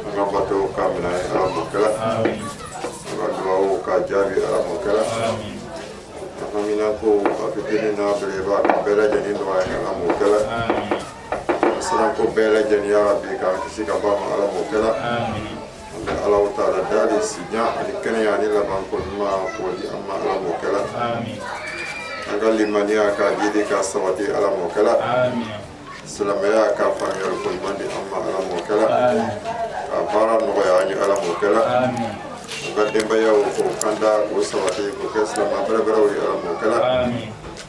an ka bato ka minɛ ala m'o kɛla an ka dubabu ka jaabi ala m'o kɛla an haminanko a fitini n'a belebeleba ka bɛɛ lajɛlen nɔgɔya ala m'o kɛla an siranko bɛɛ lajɛlen yarabi k'an kisi ka bɔ a ma ala m'o kɛla Ala taala dali si jan ani kɛnɛya ani laban ko ɲuman k'o di an ma ala m'o kɛla an ka limaniya ka jiidi ka sabati ala m'o kɛla silamɛya ka faamuyali ko ɲuman di an ma ala m'o kɛla ka baara nɔgɔya an ye ala m'o kɛla an ka denbayaw k'u kanda k'u sabati k'u kɛ silamɛ bɛrɛbɛrɛw ye ala m'o kɛla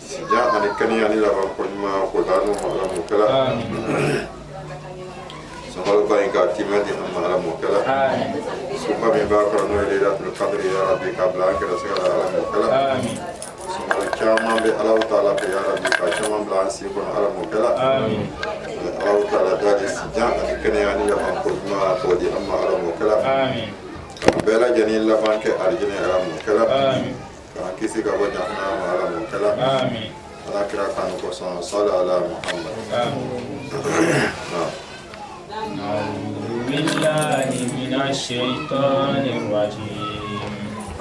Si jan ani kɛnɛya ni laban ko ɲuman k'o d'an n'u ma ala m'o kɛla sunkaloba in ka tiimɛ di an ma ala m'o kɛla suba min b'a kɔnɔ n'o ye laylatul kadiri ya rabbi k'a bila an garisɛgɛ la ala m'o kɛla sunkalo caman bɛ ala taala fɛ ya rabbi k'a caman bila an si kɔnɔ ala m'o kɛla ala taala dali si jan ani kɛnɛya ni laban ko ɲuman k'o di an ma ala m'o kɛla bɛɛ lajɛlen laban kɛ alijinɛ ala m'o kɛla k'an kisi ka bɔ jahanama ma ala m'o kɛla ala kira kanu kosɔn sali ala muhamad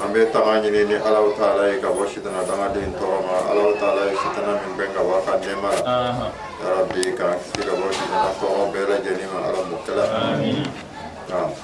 an bɛ tanga ɲini ni alahu taala ye ka bɔ sitana dangaden tɔɔrɔ ma alahu taala ye sitana min gbɛn ka bɔ a ka nɛɛma la yarabi k'an kisi ka bɔ sitana tɔɔrɔ bɛɛ lajɛlen ma ala m'o kɛla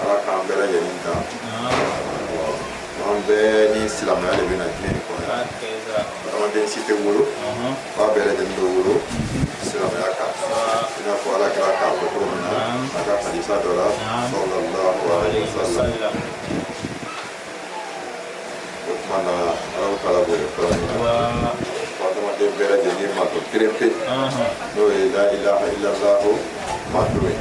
ala k'an bɛɛ lajɛlen dan an bɛɛ ni silamɛya de bɛ na diɲɛ in kɔnɔ adamaden si tɛ wolo f'a bɛɛ lajɛlen bɛ wolo silamɛya kan i n'a fɔ ala kira k'a fɔ cogo min na a ka hadisa dɔ la sallallahu alaihi wa sallam maana ala taala bɛ kala min na adamaden bɛɛ lajɛlen mantɔn kelen pe n'o ye la ilaha illallahu mantɔn ye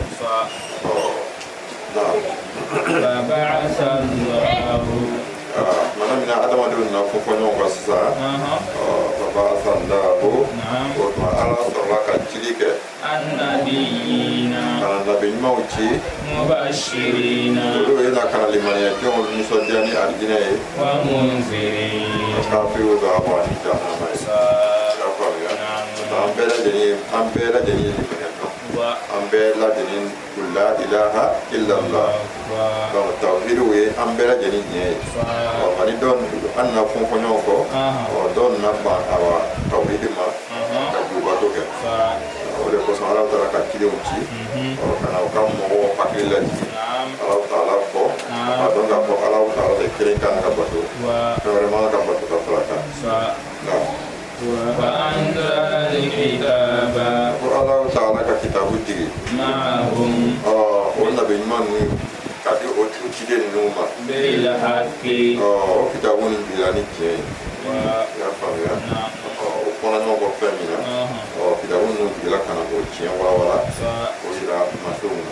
maana mina adamadenw na fɔ fɔ ɲɔgɔn kɔ sisan fabaasallahu o tuma ala sɔrɔla ka cili kɛ ka na nabi ɲumanw ci olu ye na ka na limaniya jɔnw nisɔndiya ni alijinɛ ye kafiriw bagabaga ni jahanama ye y'a faamuya an bɛɛ lajɛlen an bɛɛ lajɛlen ye limaniya dɔn an bɛɛ lajɛlen la ilaha illallah donc tawhid o ye an bɛɛ lajɛlen diinɛ ye ɔ nka ni dɔw an na fɔ fɔ ɲɔgɔn kɔ ɔ dɔw nana ban awa tawhid ma ka jobato kɛ o de kosɔn ala taala ka cidenw ci u ka na u ka mɔgɔw hakili lajigin ala taala kɔ a dɔn k'a fɔ ala taala de kelen ka kan ka bato fɛn wɛrɛ man kan ka bato ka fara a kan ko ala taala ka kitabu jigi ɔ o nabi ɲuman ninnu ka di o tigi ciden ninnu ma ɔ o kitabu nin bila ni tiɲɛ ye i y'a faamuya ɔ o fɔna ɲɔgɔn kɔ fɛn min na ɔ kitabu ninnu jigila ka na o tiɲɛ walawala o jira masenw na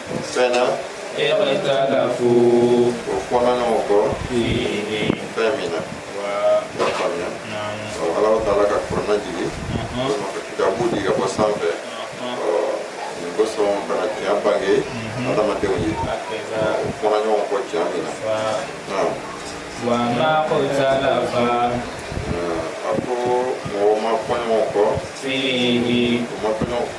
fɛn na ikhtalafu o fɔna ɲɔgɔn kɔ fɛn min na y'a faamuya ala taala ka kurana jigin kitabu di ka bɔ sanfɛ nin kosɔn ka na tiɲɛ bange adamadenw ye o fɔna ɲɔgɔn kɔ tiɲɛ min na wa ma ikhtalafa a ko mɔgɔ ma fɔ ɲɔgɔn kɔ fihi ma fɔ ɲɔgɔn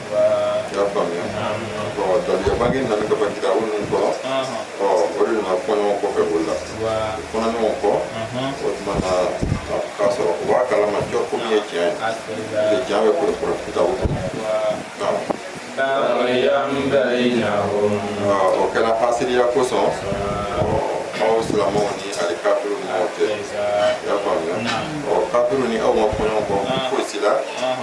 y'a faamuya daluya bangenen nana ka ban kitabu ninnu kɔnɔ ɔ o de nana fɔ ɲɔgɔn kɔfɛ o la o fɔna ɲɔgɔn kɔ o tuma na k'a sɔrɔ u b'a kalama cɔ ko min ye tiɲɛ ye tiɲɛ bɛ kɔrɔ kɔrɔ kitabu kɔnɔ baghyan baynahum o kɛra hasidiya kosɔn aw silamɛw ni ali kafiru ninnu cɛ i y'a faamuya ɔ kafiru ni aw ma fɔ ɲɔgɔn kɔ fosi la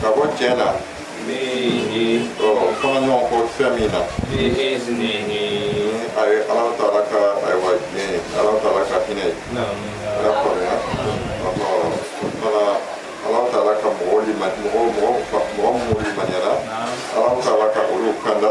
ka bɔ tiɲɛ na fihi o fɔna ɲɔgɔn kɔ fɛn min na bi iznihi a ye ala taala ka ayiwa diɲɛ ye ala taala ka hinɛ ye i y'a faamuya ɔhɔ fana ala taala ka mɔgɔ mɔgɔ minnu limaniyana ala taala ka olu kanda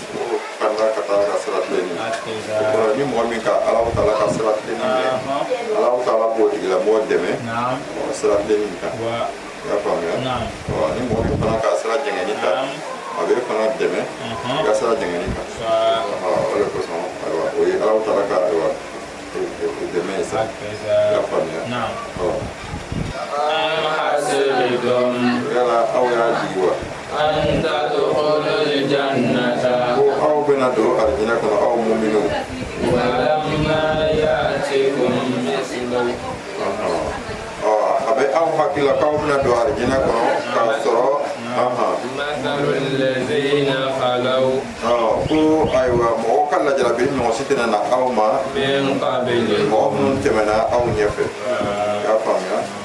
ni mɔgɔ min ka ala taala ka sira tilenni minɛ ala taala b'o tigilamɔgɔ dɛmɛ sira tilenni in kan i y'a faamuya ni mɔgɔ min fana ka sira jɛngɛnni ta a b'i fana dɛmɛ i ka sira jɛngɛnni kan o de kosɔn ayiwa o ye ala taala ka ayiwa dɛmɛ ye sa i y'a faamuya yala aw y'a jigi wa aw bɛna don arijinɛ kɔnɔ aw muminu wa lamma ya'tikum masalu a bɛ aw hakili la k'aw bɛna don arijinɛ kɔnɔ k'a sɔrɔ ahan, allazina khalaw, ko ayiwa mɔgɔw ka lajarabi ɲɔgɔn si tɛna na aw ma min qablikum mɔgɔ minnu tɛmɛna aw ɲɛfɛ i y'a faamuya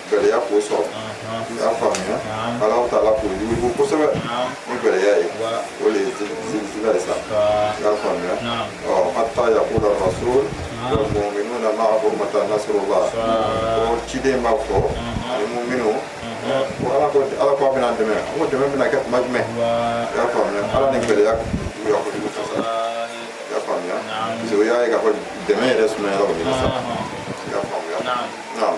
gɛlɛya k'o sɔrɔ i y'a faamuya ala taala k'o yuguyugu kosɛbɛ ni gɛlɛya ye o de ye zilzila ye sa i y'a faamuya ɔ hatta yakula rasul mu'minuna ma'ahu mata nasrullah ko ciden b'a fɔ ani mu'minu ko ala ko ala ko a bɛna dɛmɛ an ko dɛmɛ bɛna kɛ tuma jumɛn i y'a faamuya ala ni gɛlɛya juguya kojugu kosɛbɛ i y'a faamuya parce que o y'a ye k'a fɔ dɛmɛ yɛrɛ sumayara o de la sa i y'a faamuya naam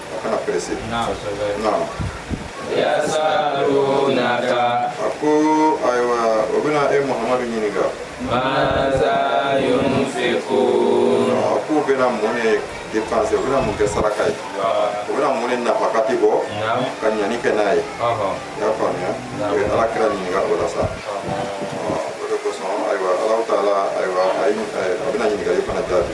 a kana pɛrɛse naam yasalunaka a ko ayiwa o bɛna e muhamadu ɲininka maza yunfikun a k'u bɛna mun de dépense u bɛna mun kɛ saraka ye u bɛna mun de nafakati bɔ ka ɲani kɛ n'a ye i y'a faamuya u ye ala kira ɲininka o la sa o de kosɔn ayiwa alahu taala ayiwa a bɛna ɲininkali fana jaabi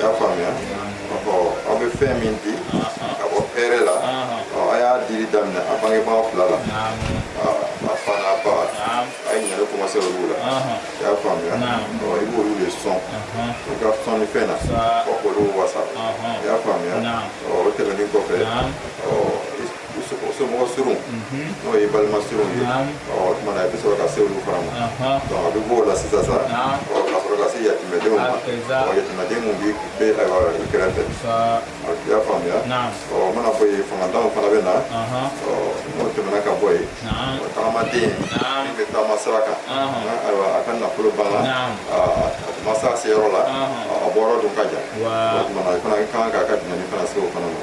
y'a faamuya aw bɛ fɛn min di ka bɔ hɛrɛ la a y'a dili daminɛ a bangebaa fila la a fa n'a ba a ye ɲani commencer olu la i y'a faamuya i b'olu de sɔn i ka sɔnnifɛn na fɔ k'olu wasa i y'a faamuya o tɛmɛnen kɔfɛ somɔgɔ surun n'o ye balima surun ye o tuma na i bɛ sɔrɔ ka se olu fana ma donc a bɛ bɔ o la sisan sa ɔ ka sɔrɔ ka se yatimɛdenw ma ɔ yatimɛden min b'i bɛ ayiwa i kɛrɛfɛ ɔ i y'a faamuya ɔ o mana bɔ yen fangatanw fana bɛ na ɔ n'o tɛmɛna ka bɔ yen ɔ tagamaden min bɛ taama sira kan ayiwa a ka nafolo banna a ma se a seyɔrɔ la a bɔyɔrɔ dun ka jan o tuma na i fana ka kan k'a ka dɛmɛni fana se o fana ma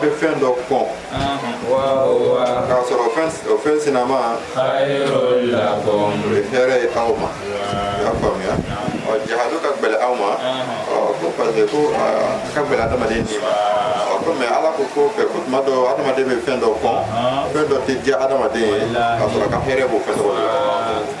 bɛ fɛn dɔ kɔn k'a sɔrɔ o fɛn sinama khairun lakum o ye hɛrɛ ye aw ma i y'a faamuya ɔ jihadu ka gbɛlɛ aw ma ɔ ko parce que ko a ka gbɛlɛ adamaden ni ma ɔ ko mais ala ko ko fɛ ko tuma dɔ adamaden bɛ fɛn dɔ kɔn fɛn dɔ tɛ diya adamaden ye k'a sɔrɔ a ka hɛrɛ b'o fɛn dɔ la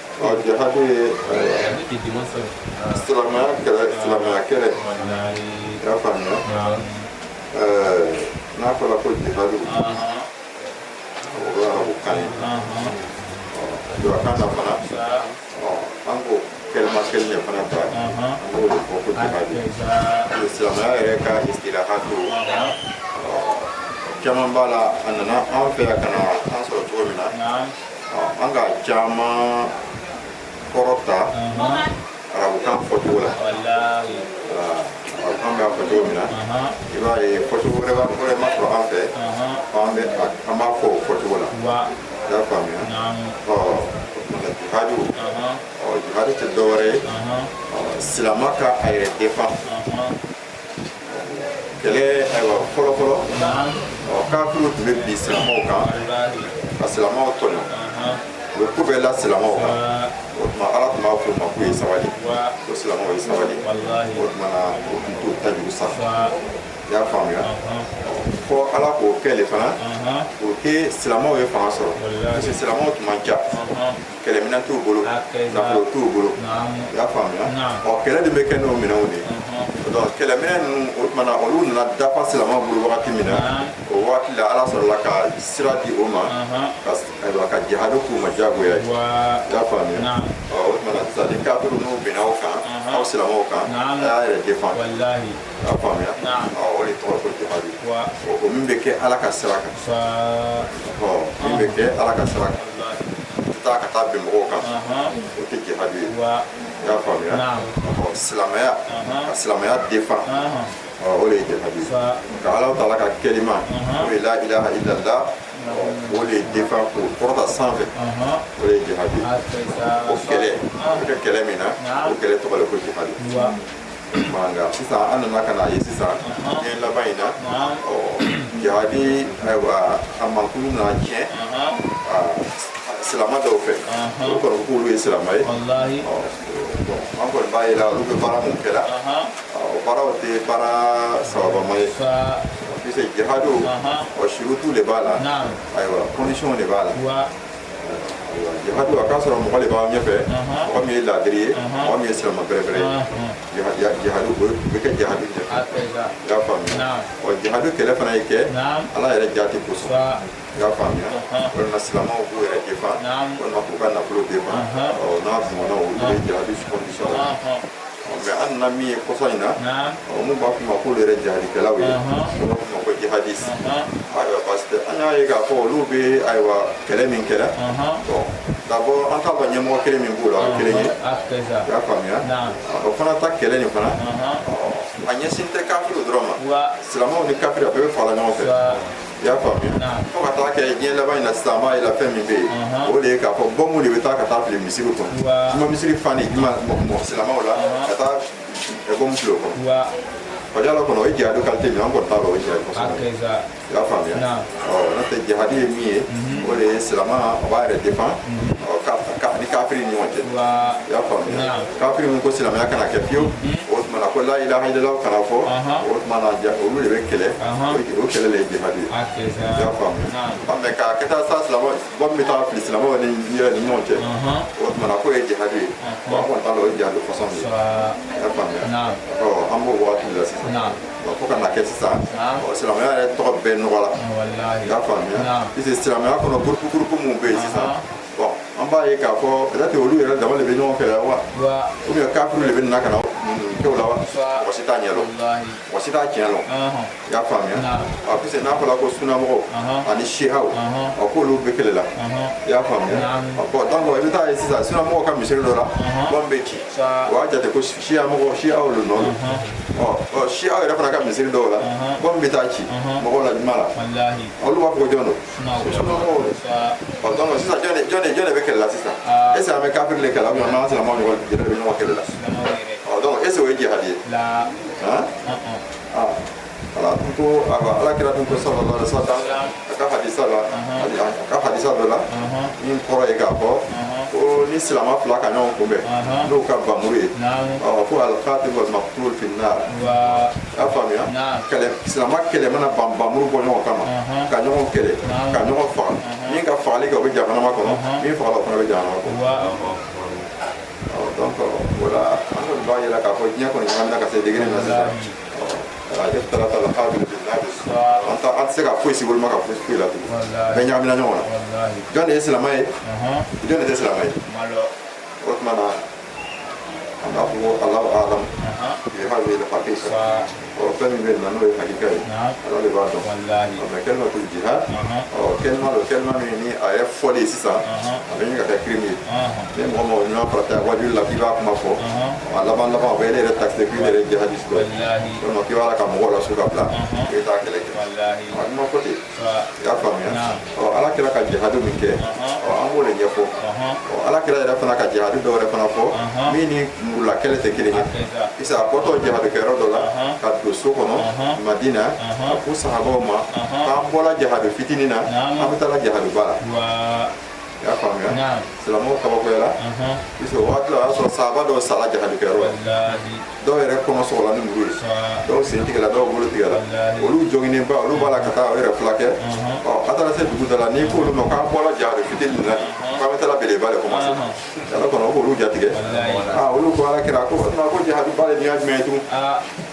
jihadu ye silamɛya kɛlɛ silamɛya kɛlɛ i y'a faamuya n'a fɔra ko jihadu o ye arabukan ye julakan na fana an ko kɛlɛma kelen de fana ta an b'o de fɔ ko jihadu silamɛya yɛrɛ ka istilahatu caman b'a la a nana an fɛ yan ka na an sɔrɔ cogo min na an k'a caman kɔrɔ ta arabukan fɔcogo la arabukan b'a fɔ cogo min na i b'a ye fɔcogo wɛrɛ ma sɔrɔ an fɛ an bɛ an b'a fɔ o fɔcogo la i y'a faamuya ɔ jihadu ɔ jihadu tɛ dɔwɛrɛ ye silama ka a yɛrɛ defan kɛlɛ ayiwa fɔlɔfɔlɔ ɔ kafiriw tun bɛ bin silamɛw kan ka silamɛw tɔɲɔ u bɛ ko bɛɛ la silamɛw kan o tuma ala tun b'a fɔ u ma k'u ye sabali ko silamɛw ye sabali o tuma na o tun t'o ta jugu sa i y'a faamuya fɔ ala k'o kɛ le fana o kɛ silamɛw ye fanga sɔrɔ parce que silamɛw tun man ca kɛlɛminɛn t'u bolo nafolo t'u bolo i y'a faamuya ɔ kɛlɛ de bɛ kɛ n'o minɛnw de ye donc kɛlɛminɛn ninnu o tuma na olu nana dafa silamaw bolo wagati min na o wagati la ala sɔrɔla ka sira di o ma ayiwa ka jihadu k'u ma diyagoya ye i y'a faamuya ɔ o tuma na sisan ni kafiriw n'u binna aw kan aw silamaw kan a y'a yɛrɛ défend y'a faamuya o de tɔgɔ ko jihadu o min bɛ kɛ ala ka sira kan ɔ min bɛ kɛ ala ka sira kan taa ka taa bin mɔgɔw kan o tɛ jihadu ye i y'a faamuya ɔ silamɛya ka silamɛya défend o de ye jihadu ye ka ala taala ka kɛlima o ye la ilaha illallah o de ye défend k'o kɔrɔta sanfɛ o de ye jihadu ye o kɛlɛ o bɛ kɛ kɛlɛ min na o kɛlɛ tɔgɔ de ko jihadu nka sisan an nana ka na ye sisan diɲɛ laban in na ɔ jihadi ayiwa a mankutu nana tiɲɛ silama dɔw fɛ olu kɔni k'olu ye silama ye an kɔni b'a ye la olu bɛ baara min kɛra o baaraw tɛ baara sababama ye puisque jihadu o surutu de b'a la ayiwa condition de b'a la jihadu a k'a sɔrɔ mɔgɔ de b'aw ɲɛfɛ mɔgɔ min ye laadiri ye mɔgɔ min ye silama bɛrɛbɛrɛ ye jihadu o bɛ kɛ jihadu ɲɛfɛ i y'a faamuya ɔ jihadu kɛlɛ fana ye kɛ ala yɛrɛ jaati kosɔn i y'a faamuya walima silamaw k'u yɛrɛ défend walima k'u ka nafolo défend ɔ n'a ɲɔgɔnnaw olu ye jihadu condition mais an nana min ye kɔsa in na minnu b'a fɔ ma k'olu yɛrɛ jihadikɛlaw ye olu b'a fɔ ma ko jihadis ayiwa parce que an y'a ye k'a fɔ olu bɛ ayiwa kɛlɛ min kɛra bon d'abord an t'a dɔn ɲɛmɔgɔ kelen min b'o la o ye kelen ye i y'a faamuya o fana ta kɛlɛ nin fana a ɲɛsin tɛ kafiriw dɔrɔn ma silamaw ni kafiri a bɛɛ bɛ fara ɲɔgɔn fɛ i y'a faamuya fo ka taa kɛ diɲɛ laban in na sisan an b'a ye la fɛn min bɛ yen o de ye k'a fɔ bɔnmu de bɛ taa ka taa fili misiri kɔnɔ juma misiri fanin juma mɔgɔ silamaw la ka taa bɔnmu fili o kɔnɔ fajala kɔnɔ o ye jihadu qualité min an kɔni t'a dɔn o ye jihadu kɔsɔn i y'a faamuya n'o tɛ jihadu ye min ye o de ye silama o b'a yɛrɛ défend ka ni kafiri ni ɲɔgɔn cɛ i y'a faamuya kafiri min ko silamɛya kana kɛ fiyewu o tuma na ko la ilaha illallah kana fɔ o tuma na olu de bɛ kɛlɛ o kɛlɛ de ye jihadu ye i y'a faamuya mais k'a kɛ taa sa silama bɔnmu bɛ taa fili silamaw ni yɛrɛ ni ɲɔgɔn cɛ o tuma na k'o ye jihadu ye bon an kɔni t'a dɔn o ye jihadu kɔsɔn ye i y'a faamuya an b'o waati de la sisan fo ka na kɛ sisan silamɛya yɛrɛ tɔgɔ bɛɛ nɔgɔla i y'a faamuya puisque silamɛya kɔnɔ gurupu gurupu minnu bɛ yen sisan bɔn an b'a ye k'a fɔ peut-être olu yɛrɛ dama de bɛ ɲɔgɔn kɛlɛ wa ou bien kafiriw de bɛ na ka na kɛ u la wa mɔgɔ si t'a ɲɛ dɔn mɔgɔ si t'a tiɲɛ dɔn i y'a faamuya a puis n'a fɔla ko sunamɔgɔw ani siyaw ɔ k'olu bɛ kɛlɛ la i y'a faamuya bɔn donc i bɛ taa ye sisan sunamɔgɔw ka misiri dɔ la bombe bɛ ci o y'a jate ko siya mɔgɔ siyaw le nɔ don ɔ siyaw yɛrɛ fana ka misiri dɔw la bombe bɛ taa ci mɔgɔw la juma la olu b'a fɔ ko jɔn don jɔn de bɛ kɛlɛ la sisan est ce que an bɛ kafiri de kɛlɛ an bɛ an silamɛw ɲɔgɔn de bɛ ɲɔgɔn kɛlɛ la donc est ce que o ye jihadi ye ala tun ko ala kira tun ko sallallahu alaihi wa sallam a ka hadisa la a ka hadisa dɔ la min kɔrɔ ye k'a fɔ ko ni silama fila ka ɲɔgɔn kunbɛn n'o ka bamuru ye ko al-qatil wal maqtul finnar a faamuya kɛlɛ silamɛ kɛlɛ mana ban bamuru bɔ ɲɔgɔn kama ka ɲɔgɔn kɛlɛ ka ɲɔgɔn faga min ka fagali kɛ o bɛ jahanama kɔnɔ min fagala o fana bɛ jahanama kɔnɔ donc voilà an kɔni b'a ye la k'a fɔ diɲɛ kɔni ɲagamina ka se degré min na sisan ikhtalata al-habil bi an-nabil an tɛ se ka foyi si woloma ka bɔ foyi la tugun bɛɛ ɲagamina ɲɔgɔn na jɔn de ye silamɛ ye jɔn de tɛ silamɛ ye O tuma na an b'a fɔ ko Alahu alam fi hadhihi al-haqiqa ɔ fɛn min bɛ yen nɔ n'o ye hakika ye Ala de b'a dɔn ɔ mais kɛlima ko jihad ɔ kɛlima don kɛlima min ni a yɛrɛ fɔli sisan a bɛ ɲini ka kɛ crime ye ni mɔgɔ mɔgɔ ɲuman farata waajuli la k'i b'a kuma fɔ a laban laban o bɛ n'i yɛrɛ taxer k'i yɛrɛ jihadiste dɔ ye walima k'i b'a la ka mɔgɔw lasu ka bila k'i bɛ taa kɛlɛ kɛ a dun ma kɛ ten y'a faamuya ɔ ala kira ka jihadu min kɛ ɔ an b'o de ɲɛfɔ ɔ ala kira yɛrɛ fana ka jihadu dɔ wɛrɛ fana fɔ min ni murula kɛlɛ tɛ kelen ye sa a bɔtɔ jihadu kɛyɔrɔ dɔ la ka don so kɔnɔ madina a ko sahabaw ma k'an bɔla jihadu fitinin na an bɛ taala jihaduba la y'a faamuya silamɛw kabakoyala puisque o waati la o y'a sɔrɔ sahaba dɔw sala jihadu kɛyɔrɔ la dɔw yɛrɛ kɔnɔ sɔgɔla ni muru ye dɔw sen tigɛla dɔw bolo tigɛla olu joginnen ba olu b'a la ka taa o yɛrɛ filakɛ ɔ a taara se dugu da la n'i k'olu ma k'an bɔla jahadi fitini na k'an bɛ taala belebeleba de kɔmanse ala kɔnɔ k'olu jatigɛ aa olu ko ala kira ko ko jahadiba de nin ye jumɛn ye tun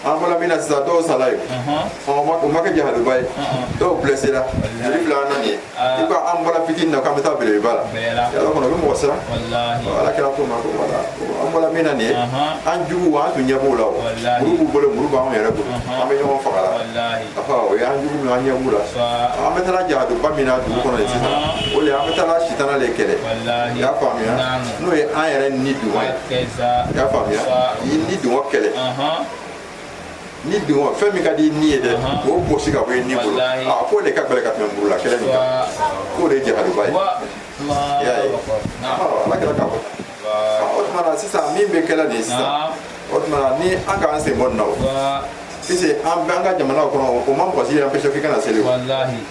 an bɔla min na sisan dɔw sala yen ɔ o ma kɛ jahadiba ye dɔw blesséla joli filɛ an na nin ye i ko an bɔla fitini na k'an bɛ taa belebeleba la yala kɔnɔ o bɛ mɔgɔ siran ala kira k'o ma ko wala an bɔla min na nin ye an jugu an tun ɲɛ b'o la o muru b'u bolo muru b'anw yɛrɛ bolo an bɛ ɲɔgɔn faga la o y'an jugu min an ɲɛ b'u la an bɛ taa jahaduba min na dugu kɔnɔ sisan o de an bɛ taa sitana de kɛlɛ i y'a faamuya n'o ye an yɛrɛ ni dungɔ ye i y'a faamuya ni dungɔ kɛlɛ ni dungɔ fɛn min ka di ni ye dɛ o gosi ka bɔ i ni bolo a k'o de ka gɛlɛ ka tɛmɛ muru la kɛlɛ nin kan k'o de ye jahaduba ye i y'a ye ala kira k'a fɔ o tuma na sisan min bɛ kɛlɛ nin ye sisan o tuma na ni an k'an sen bɔ nin na o puisque an bɛ an ka jamanaw kɔnɔ o ma mɔgɔ si empêcher k'i kana seli o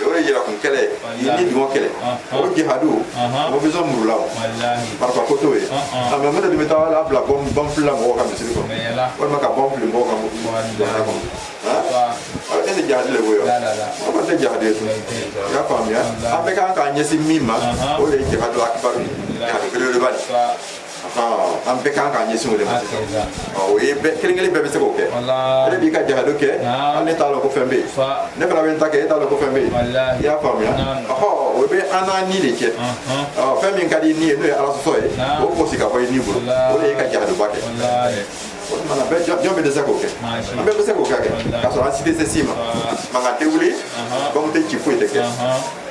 o de yɛrɛkun kɛlɛ ye ni dungɔ kɛlɛ o jihadu o ma besoin muru la o marifa ko t'o ye a mɛ mun de bɛ taa a labila bɔn fili la mɔgɔw ka misiri kɔnɔ walima ka bɔn fili mɔgɔw ka jamana kɔnɔ e tɛ jihadi le b'o ye o ma tɛ jihadi ye tun i y'a faamuya an bɛ kan k'an ɲɛsin min ma o de ye jihadu akibaru ye jihadu belebeleba de an bɛɛ kan k'an ɲɛsin o de ma sisan o ye bɛɛ kelen kelen bɛɛ bɛ se k'o kɛ e de b'i ka jahadu kɛ hali ne t'a dɔn ko fɛn bɛ yen ne fana bɛ n ta kɛ e t'a dɔn ko fɛn bɛ yen i y'a faamuya ɔhɔ o bɛ an n'an ni de cɛ fɛn min ka di ni ye n'o ye ala sɔsɔ ye o gosi ka bɔ i ni bolo o de ye ka jahaduba kɛ o tuma na jɔn bɛ dɛsɛ k'o kɛ an bɛɛ bɛ se k'o kɛ k'a sɔrɔ an si tɛ se si ma mankan tɛ wuli bɔmu tɛ ci foyi tɛ kɛ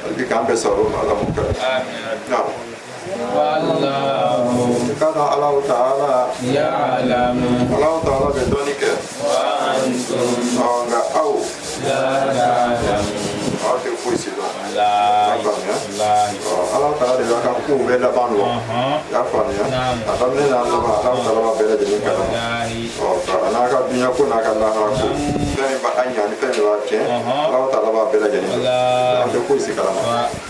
hali bi k'an bɛɛ sɔrɔ o ma ala m'o kɛ Kala Allahu ta'ala. Ya'lamu. Allahu ta'ala bɛ dɔnni kɛ. Wa antum. Ɔ nka aw. La ta'lamu. Aw tɛ foyi si dɔn. La. Y'a faamuya. La. Ɔ Allahu ta'ala de b'a ka kow bɛɛ laban dɔn. Y'a faamuya. A daminɛ n'a laban Allahu ta'ala b'a bɛɛ lajɛlen kalama. Ɔ an'a ka dunya ko n'a ka lahara ko. Fɛn min b'a ɲɛ ani fɛn min b'a tiɲɛ. Allahu ta'ala b'a bɛɛ lajɛlen kalama. An tɛ foyi si kalama.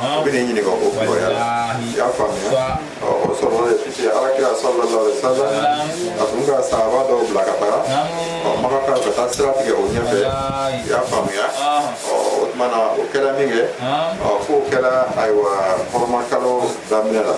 u bɛ ne ɲininka o la i y'a faamuya ɔ o sɔrɔ de fiti ala kira sallallahu alaihi wasallam a tun ka sahaba dɔw bila ka taga ɔ makakaw ka taa sira tigɛ u ɲɛfɛ i y'a faamuya ɔ o tuma na o kɛra min kɛ ɔ k'o kɛra ayiwa hɔrɔmakalo daminɛ la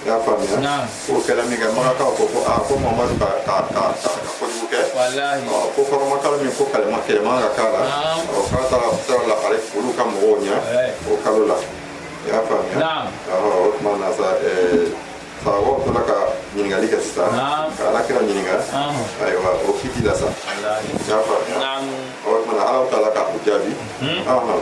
i y'a faamuya K'o kɛra min kɛ makakaw ko ko aa ko mamadu ka ka ka ka ka kojugu kɛ walahi ɔ ko hɔrɔmakalo min ko kalo min kɛlɛ man kan ka k'a la Naam. ɔ k'a taara sira labare olu ka mɔgɔw ɲɛ Ɛɛ. o kalo la i y'a faamuya Naam. ɔ o tuma na sa ɛɛ sahabaw tora ka ɲininkali kɛ sisan Naam. ka ala kira ɲininka Naam. ayiwa o kiti la sa walahi i y'a faamuya naam ɔ o tuma na ala taala ka u jaabi Ɔhɔn.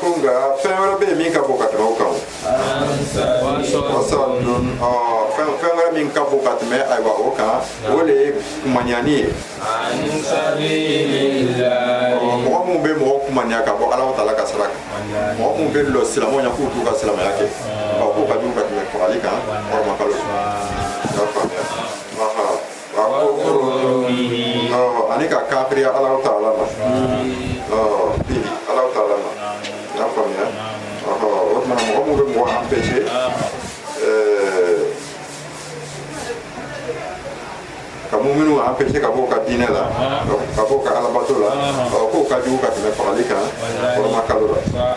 ko nka fɛn wɛrɛ bɛ yen min ka bon ka tɛmɛ o kan fɛn fɛn wɛrɛ min ka bon ka tɛmɛ ayiwa o kan o de ye kumanyani ye mɔgɔ minnu bɛ mɔgɔ kumanya ka bɔ ala taala ka sira kan mɔgɔ minnu bɛ lɔ silamɛw ɲɛ k'u t'u ka silamɛya kɛ k'o ka jugu ka tɛmɛ fagali kan hɔrɔmakalo ani ka kafiriya Alahu Taala ma bihi Alahu Taala ma i y'a faamuya o tuma mɔgɔ minnu bɛ mɔgɔ empêcher ka muminu empêcher ka bɔ ka diinɛ la ka bɔ ka alabato la k'o ka jugu ka tɛmɛ fagali kan hɔrɔmakalo la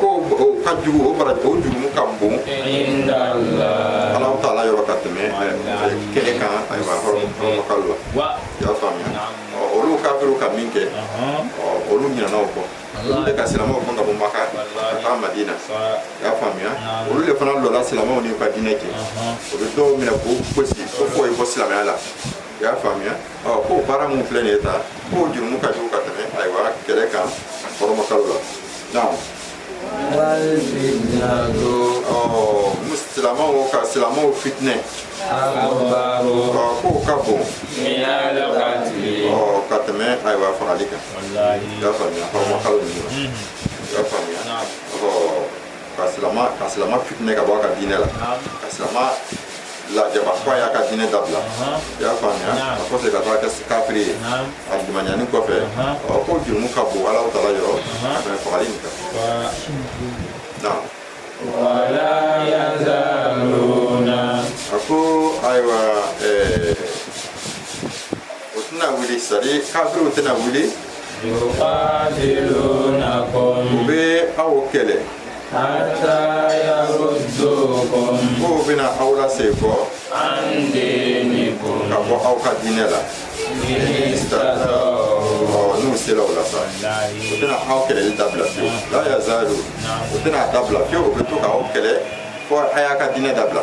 ko o ka jugu o baara o jurumu ka bon Ala Taala yɔrɔ ka tɛmɛ kɛlɛ kan ayiwa hɔrɔmakalo la i y'a faamuya olu kafiru ka min kɛ olu ɲinana o kɔ olu de ka silamɛw gɛn ka bɔ maka ka taa madina i y'a faamuya olu le fana lɔla silamɛw ni ka diinɛ cɛ o bɛ dɔw minɛ k'u gosi ko fo i ye bɔ silamɛya la i y'a faamuya ko baara min filɛ nin ye tan k'o jurumu ka jugu ka tɛmɛ ayiwa kɛlɛ kan hɔrɔmakalo la naamu silamɛw ka silamɛw fitinɛ k'o ka bon ka tɛmɛ ayiwa fagali kan i y'a faamuya hɔrɔmakalo la i y'a faamuya ka silama ka silama fitinɛ ka bɔ a ka diinɛ la ka silama lajaba fo a y'a ka diinɛ dabila i y'a faamuya a kɔsegi ka taa kɛ kafiri ye a limaniyanin kɔfɛ ɔ k'o jurumu ka bon Ala Taala yɔrɔ ka tɛmɛ fagali nin kan naam wala yazaluna a ko ayiwa ɛɛ o tɛna wuli sari kafiriw tɛna wuli u bɛ aw kɛlɛ k'u bɛna aw lasekɔ ka bɔ aw ka diinɛ la n'u sera o la sa u tɛna aw kɛlɛli dabila fiyewu la yazalu u tɛna a dabila fiyewu u bɛ to ka aw kɛlɛ fo a y'a ka diinɛ dabila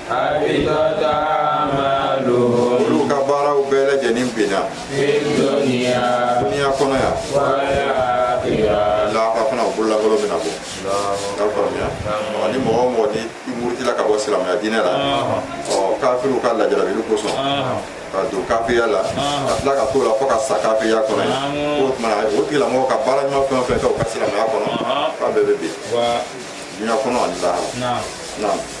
olu ka baaraw bɛɛ lajɛlen binna duniya kɔnɔ yan lahara fana u bololankolon bɛna bɔ i y'a faamuya ni mɔgɔ o mɔgɔ ni i murutila ka bɔ silamɛya diinɛ la kafiriw ka lajarabili kosɔn ka don kafiriya la ka tila ka t'o la fo ka sa kafiriya kɔnɔ yen o tuma o tigilamɔgɔ ka baara ɲuman fɛn o fɛn kɛ u ka silamɛya kɔnɔ k'a bɛɛ bɛ bin diɲɛ kɔnɔ ani lahara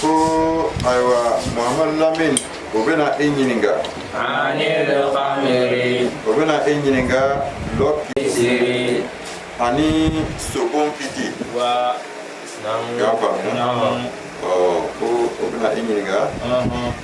ko ayiwa muhamadu lamini o bɛna e ɲininka o bɛna e ɲininka dɔlɔ kiti ani sokon kiti i y'a faamu ko o bɛna e ɲininka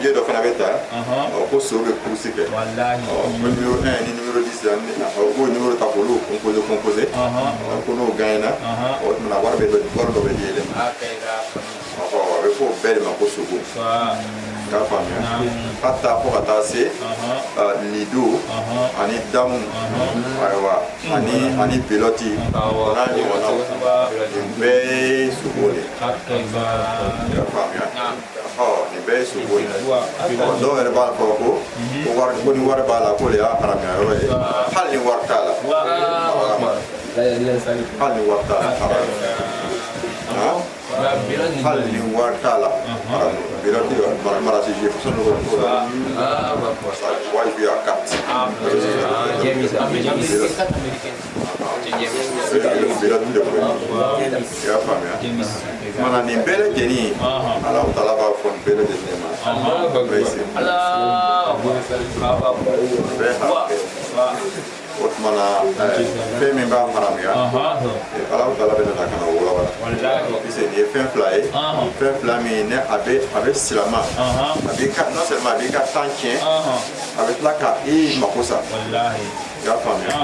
biye dɔ fana bɛ ta ko so bɛ kurusi kɛ nimero 1 ni nimero 10 la u b'o nimero ta k'olu composé composé ko n'o gagnera o tuma wari bɛ dɔ wari dɔ bɛ di ile ma a bɛ fɔ o bɛɛ de ma ko sogo k'a faamuya hata fo ka taa se lido ani damu ayiwa ani ani belɔti n'a ɲɔgɔnnaw nin bɛɛ ye sogo de ye K'a to i b'a i y'a faamuya ɔ nin bɛɛ ye sogo ye ɔ dɔw yɛrɛ b'a fɔ ko ko wari ko ni wari b'a la k'o de y'a haramuya yɔrɔ ye hali ni wari t'a la hali ni wari t'a la haramu hali ni wari t'a la haramu belɔti marasi jeu façon dɔ ko la wajibi ya carte nin bɛɛ lajɛlen ala taala b'a fɔ nin bɛɛ lajɛlen ma o tuma na fɛn min b'a haramuya ala taala bɛna na ka na walawala parce que nin ye fɛn fila ye fɛn fila min ne a bɛ a bɛ silama a b'i ka non seulement a b'i ka temps tiɲɛ a bɛ tila ka i mako sa i y'a faamuya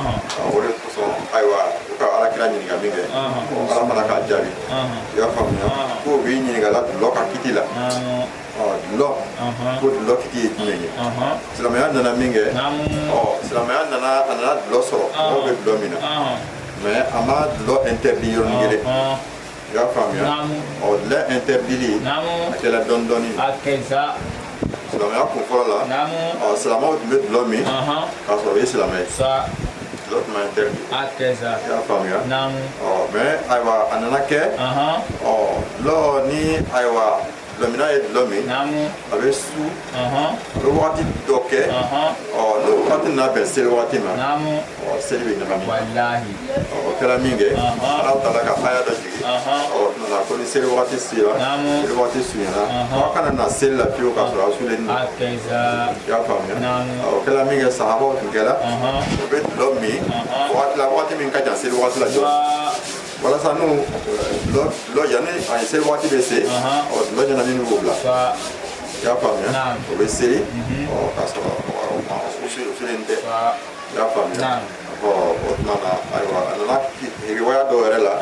o de kosɔn ayiwa u ka ala kira ɲininka min kɛ ala fana k'a jaabi i y'a faamuya ko u b'i ɲininka la dulɔ ka kiti la dulɔ ko dulɔ kiti ye jumɛn ye silamɛya nana min kɛ silamɛya nana a nana dulɔ sɔrɔ mɔgɔw bɛ dulɔ min na mais a ma dulɔ interdit yɔrɔnin kelen i y'a faamuya ɔ dulɔ interdili a kɛra dɔɔni dɔɔni silamɛya kun fɔlɔ la ɔ silamɛw tun bɛ dulɔ min k'a sɔrɔ o ye silamɛ ye dulɔ tun ma interdit i y'a faamuya ɔ mais ayiwa a nana kɛ ɔ dulɔ ni ayiwa Dulɔminna ye dulɔ min a bɛ su a bɛ waati dɔ kɛ n'o waati nana bɛn seli waati ma seli bɛ ɲagami o kɛra min kɛ ala taala ka aya dɔ jigin nana ko ni seli waati sera seli waati surunyana aw kana na seli la fiyewu k'a sɔrɔ aw sulen don i y'a faamuya o kɛra min kɛ sahabaw tun kɛra o bɛ dulɔ min waati la waati min ka jan seli waati la walasa n'u dulɔ yanni a ye seli waati bɛ se dulɔ ɲɛnamini b'o bila i y'a faamuya o bɛ seli ɔ k'a sɔrɔ u sulen tɛ i y'a faamuya ɔ o tuma na ayiwa a nana riwaya dɔ yɛrɛ la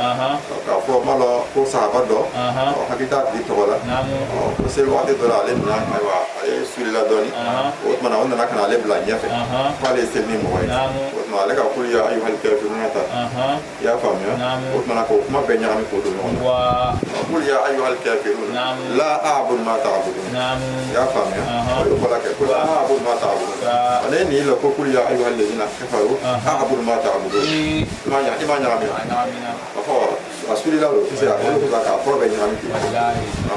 k'a fɔ n m'a lɔn ko sahaba dɔ ɔ n hakili t'a tigi tɔgɔ la ɔ ko seli waati dɔ la ale nana ayiwa ale sulila dɔɔni o tuma na o nana ka na ale bila ɲɛfɛ k'ale ye seli ni mɔgɔ ye o tuma ale ka kuli ya ayuhal kafiruna ta i y'a faamuya o tumana k'o kuma bɛɛ ɲagami k'o don ɲɔgɔn na kuli ya ayyuha alkafirun la a'budu ma ta'budun i y'a faamuya o y'o baara kɛ ko la a'budu ma ta'budun ale ye nin la ko kuli ya ayyuha alladhina kafaru a'budu ma ta'budun i m'a ɲagami i m'a ɲagami a fɔ a sulila o tɛ se ka k'olu ka k'a fɔlɔ bɛɛ ɲagami ten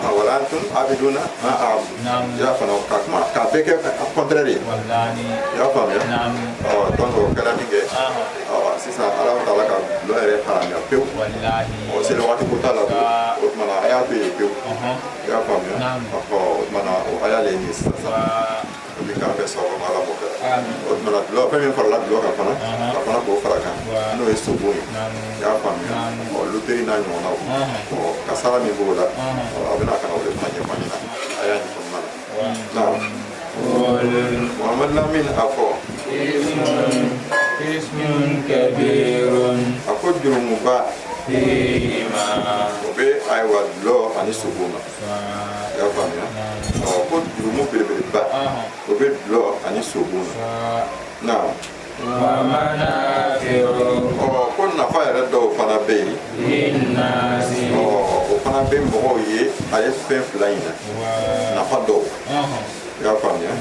a wala antum abiduna ma a'budu i y'a faamuya ka kuma k'a bɛɛ kɛ a kɔntɛrɛ de ye i y'a faamuya ɔ donc o kɛra min kɛ sisan ala taala ka dulɔ yɛrɛ haramiya pewu ɔ seli waati ko t'a la o tuma na a y'a to yen pewu i y'a faamuya ɔ o tuma na o aya le ye nin ye sisan sisan o bɛ k'an bɛɛ sababu ma ala b'o kɛ o tuma na dulɔ fɛn min farala dulɔ kan fana k'a fana k'o fara kan n'o ye sobon ye i y'a faamuya ɔ luteri n'a ɲɔgɔnnaw ɔ kasara min b'o la ɔ a bɛna ka na o de fana ɲɛfɔ an ɲɛna a y'a ɲɛfɔ Na, Muhammad Lamin a fɔ Ismun kabirun a ko jurumuba fihima o bɛ ayiwa dulɔ ani sogo ma i y'a faamuya ɔ ko jurumu belebeleba o bɛ dulɔ ani sogo ma na ko nafa yɛrɛ dɔw fana bɛ yen o fana bɛ mɔgɔw ye a ye fɛn fila in na nafa dɔw i y'a faamuya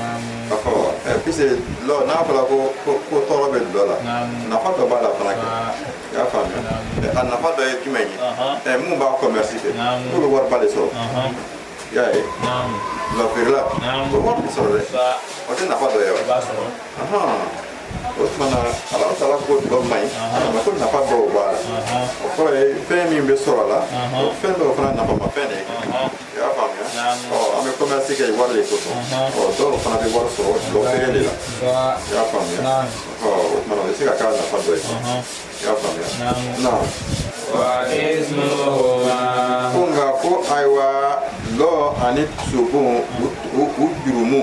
pisiki dulɔ n'a fɔra ko ko tɔɔrɔ bɛ dulɔ la nafa dɔ b'a la fana kɛ i y'a faamuya a nafa dɔ ye jumɛn ye minnu b'a kɔmɛrisi kɛ k'u bɛ wariba de sɔrɔ i y'a ye dulɔ feere la o wari bɛ sɔrɔ dɛ o tɛ nafa dɔ ye wa o tumana ala taala ko dulɔ man ɲi nka ko nafa dɔw b'a la o kɔrɔ ye fɛn min bɛ sɔrɔ a la o fɛn dɔw fana nafamafɛn de ye i y'a faamuya ɔ an bɛ kɔmɛrisi kɛ wari de kosɔn ɔ dɔw fana bɛ wari sɔrɔ dulɔ feere de la i y'a faamuya ɔ o tumana o bɛ se ka k'a nafa dɔ ye i y'a faamuya na ko nka ko ayiwa dulɔ ani sogon u jurumu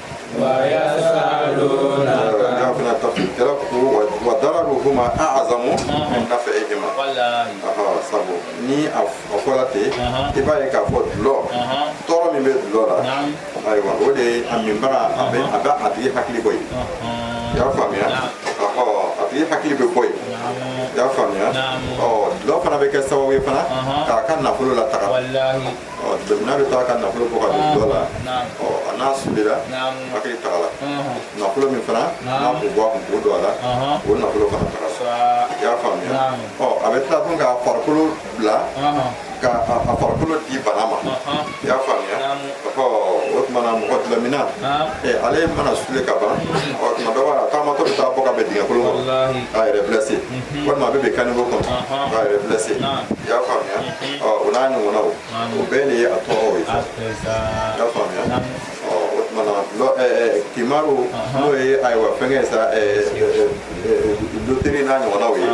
ma a'zamu min naf'ihima sabu ni a fɔra ten i b'a ye k'a fɔ dulɔ tɔɔrɔ min bɛ dulɔ la ayiwa o de ye a minbaga a bɛ a bɛ a tigi hakili bɔ yen i y'a faamuya a tigi hakili bɛ bɔ yen i y'a faamuya ɔ dulɔ fana bɛ kɛ sababu ye fana k'a ka nafolo lataga dɔlɔminna bɛ taa ka nafolo bɔ ka don dɔlɔ la a n'a sulela hakili tagala nafolo min fana n'a k'o bɔ a kun k'o don a la o nafolo fana taara i y'a faamuya ɔ a bɛ tila tugun k'a farikolo bila ka a farikolo di bana ma i y'a faamuya o tuma na mɔgɔ dɔlɔminna ale mana sule ka ban ɔ tuma dɔ b'a taamatɔ bɛ taa bɔ ka bin dingɛ kolon kɔnɔ k'a yɛrɛ blessé walima a bɛ bin caniveau kɔnɔ k'a yɛrɛ blessé i y'a faamuya o n'a ɲɔgɔnnaw o bɛɛ de ye a tɔɔrɔw ye i y'a faamuya o tuma na alikimaru n'o ye ayiwa fɛnkɛ ye sa loteri n'a ɲɔgɔnnaw ye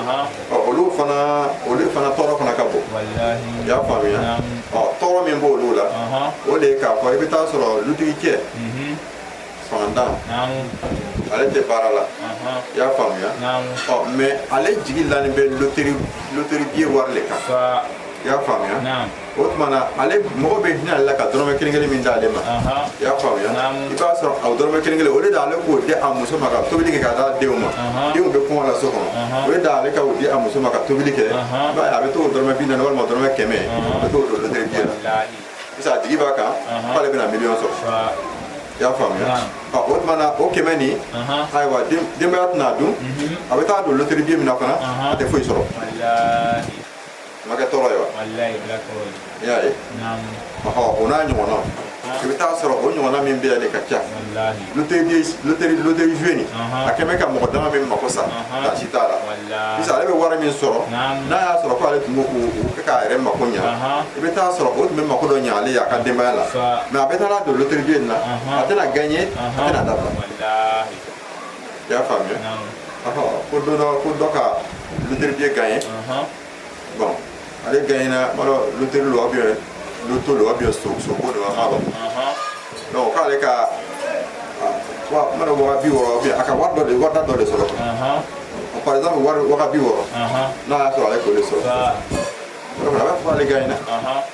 olu fana olu fana tɔɔrɔ fana ka bon i y'a faamuya tɔɔrɔ min b'olu la o de ye k'a fɔ i bɛ t'a sɔrɔ lutigicɛ fantan ale tɛ baara la i y'a faamuya mais ale jigi lani bɛ loteri loteri biye wari de kan i y'a faamuya o tuma na ale mɔgɔ bɛ hinɛ ale la ka dɔrɔmɛ kelen kelen min d'ale ma i y'a faamuya i b'a sɔrɔ a dɔrɔmɛ kelen kelen au lieu de ale k'o di a muso ma ka tobili kɛ k'a d'a denw ma denw bɛ kɔngɔ la so kɔnɔ au lieu de ale ka o di a muso ma ka tobili kɛ i b'a ye a bɛ t'o dɔrɔmɛ bi naani walima dɔrɔmɛ kɛmɛ a bɛ t'o don loteri biye la parce a jigi b'a kan k'ale bɛna miliyɔn sɔrɔ i y'a faamuya o tuma na o kɛmɛ nin ayiwa denbaya tɛna a dun a bɛ t'a don loteri biye min na fana a tɛ foyi sɔrɔ o ma kɛ tɔɔrɔ ye wa i y'a ye o n'a ɲɔgɔnnaw i bɛ t'a sɔrɔ o ɲɔgɔnna min bɛ yan de ka ca loteri joué nin a kɛ bɛ ka mɔgɔ dama min mako sa dan si t'a la parce ale bɛ wari min sɔrɔ n'a y'a sɔrɔ k'ale tun kɛ k'a yɛrɛ mako ɲa i bɛ t'a sɔrɔ o tun bɛ mako dɔ ɲa ale y'a ka denbaya la mais a bɛ t'a don loteri joué nin na a tɛna gagné a tɛna a dabila i y'a faamuya ko dɔ ko dɔ ka loteri biye gagné bon ale gagnera n m'a dɔn loteri lo ou bien loto lo ou bien so ko de n m'a dɔn donc k'ale ka waa n m'a dɔn waga bi wɔɔrɔ ou bien a ka wari dɔ de wari da dɔ de sɔrɔ par exemple wari waga bi wɔɔrɔ n'a y'a sɔrɔ ale k'o de sɔrɔ a b'a fɔ ale gagnera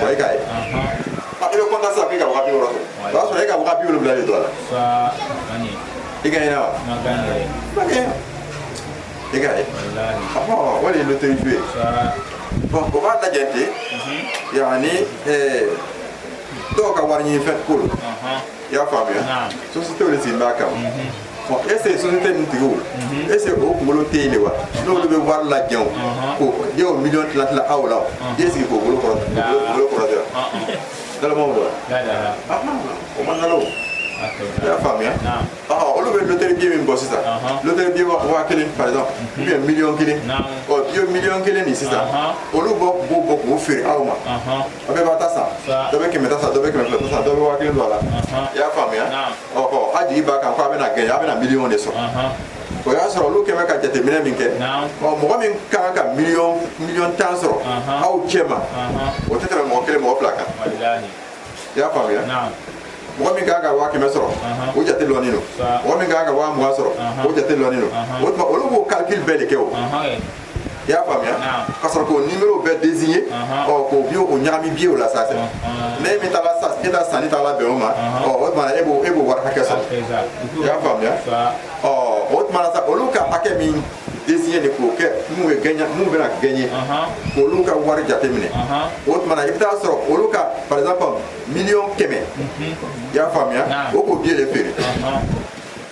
Wa e ka ye a i bɛ kɔntan sa k'i ka waga bi wɔɔrɔ sɔrɔ o y'a sɔrɔ e ka waga bi wɔɔrɔ fila de don a la i gagnera wa i ka ye ɔhɔn wali loteri joué bon o b'a lajɛ ten yanni dɔw ka wari ɲini fɛn ko don i y'a faamuya sociétéw de sigilen b'a kama bon est ce que société ninnu tigiw est ce que o kunkolo tɛ yen de wa n'olu bɛ wari lajɛ o ko diɲɛ o miliyɔn tila tila aw la o i sigi k'o bolo kɔrɔ bolo kɔrɔ tɛ wa nalonmaw don wa o ma nalon i y'a faamuya olu bɛ loteri biye min bɔ sisan loteri biye waa kelen par exemple ou bien miliyɔn kelen ɔ i ye miliyɔn kelen nin sisan olu bɔ b'o bɔ k'o feere aw ma a bɛɛ b'a ta sa dɔ bɛ kɛmɛ ta sa dɔ bɛ kɛmɛ fila ta sa dɔ bɛ waa kelen don a la i y'a faamuya ɔ ɔ a jigi b'a kan ko a bɛna gagner a bɛna miliyɔn de sɔrɔ o y'a sɔrɔ olu kɛmɛ ka jateminɛ min kɛ ɔ mɔgɔ min ka kan ka miliyɔn miliyɔn tan sɔrɔ aw cɛ ma o tɛ tɛmɛ mɔgɔ kelen mɔgɔ fila kan i y'a faamuya mɔgɔ min kan ka waa kɛmɛ sɔrɔ o jate lɔni don mɔgɔ min kan ka waa mugan sɔrɔ o jate lɔni don o tuma olu b'o calcul bɛɛ de kɛ o i y'a faamuya k'a sɔrɔ k'o nimero bɛɛ désigner ɔ k'o biye o ɲagami biye o la sa ne min taara sa e ta sanni taara bɛn o ma ɔ o tuma e b'o e b'o wari hakɛ sɔrɔ i y'a faamuya ɔ o tuma sa olu ka hakɛ min désigner de k'o kɛ minnu ye gagner minnu bɛna gagner k'olu ka wari jate minɛ o tuma na i bɛ taa sɔrɔ olu ka par exemple miliyɔn kɛmɛ i y'a faamuya o k'o biye de feere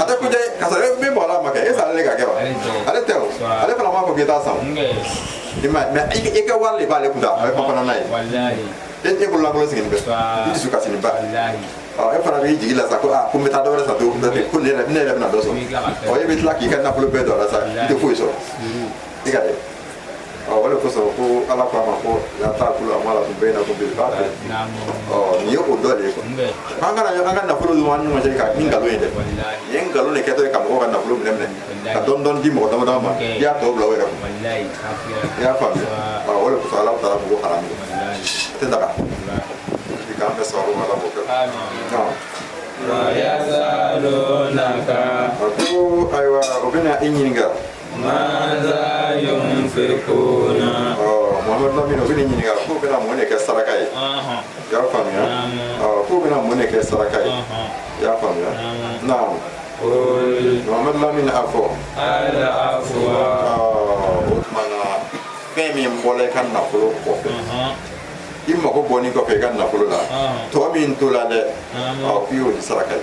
a tɛ kuja ye karisa e min bɔra a ma kɛ e salen ka kɛ wa ale tɛ o ale fana b'a fɔ k'i t'a san o i ma mais i ka wari de b'ale kun ta a bɛ panpana n'a ye e e bolo lankolon sigilen bɛ i dusukasininba e fana b'i jigi la sa ko aa ko n bɛ taa dɔ wɛrɛ san pewu ko ne yɛrɛ bɛna dɔ sɔrɔ ɔ e bɛ tila k'i ka nafolo bɛɛ don a la sa i tɛ foyi sɔrɔ Tigɛ ye ɔ o de kosɔn ko ala k'an ma ko لا تأكلوا أموالكم بينكم بالباطل ɔ nin ye o dɔ de ye koyi an kana an ka nafolo dun an ɲɔgɔn cɛ ka ni nkalon ye dɛ nin ye nkalon de kɛtɔ ye ka mɔgɔw ka nafolo minɛ minɛ ka dɔɔni dɔɔni di mɔgɔ dama dama ma i y'a tɔ bila o yɛrɛ kun i y'a faamuya ɔ o de kosɔn ala taala ko haramu a tɛ daga i k'an bɛ sababu ma ala k'o kɛ ɔ ويسألونك a ko ayiwa o bɛna i ɲininka Muhamadu Lamini o bɛna i ɲininka k'o bɛna mun de kɛ saraka ye i y'a faamuya k'o bɛna mun de kɛ saraka ye i y'a faamuya naam Muhamadu Lamini a fɔ o tuma na fɛn min bɔra i ka nafolo kɔfɛ i mago bɔnni kɔfɛ i ka nafolo la tɔ min tora dɛ k'i y'o di saraka ye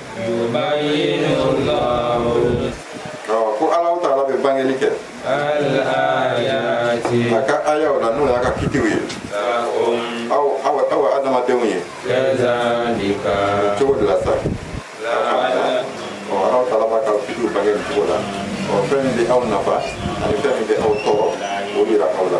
ko ala taala bɛ bangeli kɛ a ka ayaw la n'o y'a ka kitiw ye aw aw aw adamadenw ye cogo de la sa ala taala b'a ka kitiw bange nin cogo la ɔ fɛn min bɛ aw nafa ani fɛn min bɛ aw tɔɔrɔ o jira aw la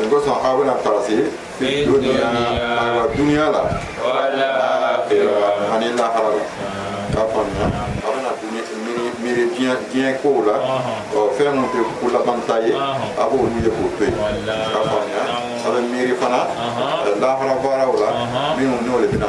nin kosɔn aw bɛna taasi duniya ayiwa duniya la ani lahara la k'a faamuya aw bɛna miiri diɲɛ diɲɛ kow la ɔ fɛn minnu tɛ ko labanta ye a b'olu ye k'o to yen k'a faamuya aw bɛ miiri fana lahara baaraw la minnu n'o de bɛna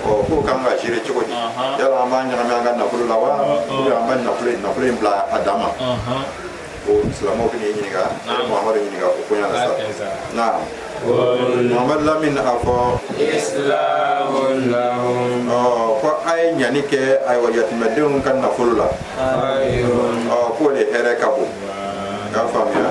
k'o kan ka gérer cogo di yala an b'a ɲagami an ka nafolo la wa an b'a nafolo in nafolo in bila a dan ma ko silamɛw bɛ n'i ɲininka Muhamadu ɲininka o koɲa la sa na Muhamadu Lamini a fɔ ko a ye ɲani kɛ ayiwa yatimɛdenw ka nafolo la k'o de hɛrɛ ka bon i y'a faamuya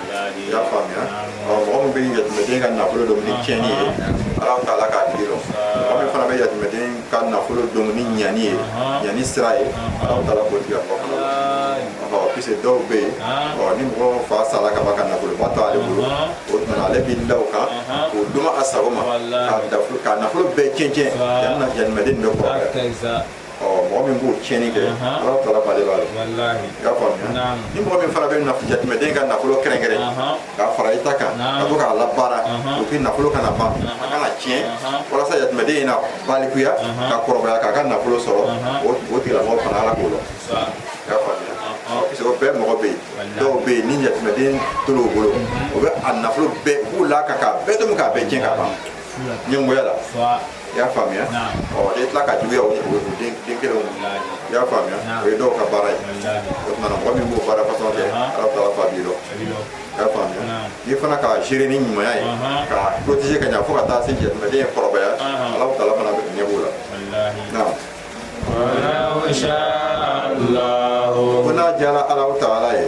i y'a faamuya mɔgɔ min bɛ yatimɛden ka nafolo dun ni tiɲɛni ye alahu taala k'a tigi dɔn mɔgɔ min fana bɛ yatimɛden ka nafolo dun ni ɲani ye ɲani sira ye alahu taala k'o tigilamɔgɔ fana dɔn puisque dɔw bɛ yen ni mɔgɔ fa sara ka ban ka nafoloba to ale bolo o tuma na ale bɛ da o kan k'o dun a sago ma k'a nafolo bɛɛ cɛn cɛn yanni na yatimɛden bɛ kɔrɔbaya ɔ mɔgɔ min b'o tiɲɛni kɛ ala taala b'ale b'a la i y'a faamuya ni mɔgɔ min fana bɛ yatimɛden ka nafolo kɛrɛnkɛrɛn k'a fara i ta kan ka to k'a labaara o k'i nafolo kana ban a kana tiɲɛ walasa yatimɛden in na balikuya ka kɔrɔbaya k'a ka nafolo sɔrɔ o tigilamɔgɔ fana ala k'o dɔn i y'a faamuya parce que o bɛɛ mɔgɔ bɛ yen dɔw bɛ yen ni yatimɛden tol'o bolo o bɛ a nafolo bɛɛ u b'u la ka k'a bɛɛ dun k'a bɛɛ tiɲɛ ka ban ɲɛngoya la i y'a faamuya ɔ n'i tila ka juguya o den kelenw i y'a faamuya o ye dɔw ka baara ye o tumana mɔgɔ min b'o baara fasɔn kɛ alahu taala fana b'i dɔn i y'a faamuya n'i fana ka gérer ni ɲumanya ye ka protéger ka ɲa fo ka taa se yatimɛden ye kɔrɔbaya alahu taala fana ɲɛ b'o la naam ko n'a diyara ala taala ye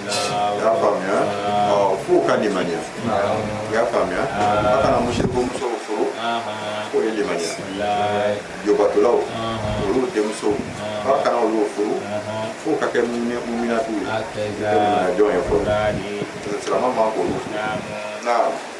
y'a faamuya fo ka limaniya i y'a faamuya a kana musiriku musow furu f'o ye limaniya jobatolaw olu denmusow a kana olu furu fo ka kɛ muminatu ye kɛ minajɔn ye fɔlɔ silamɛ man k'olu furu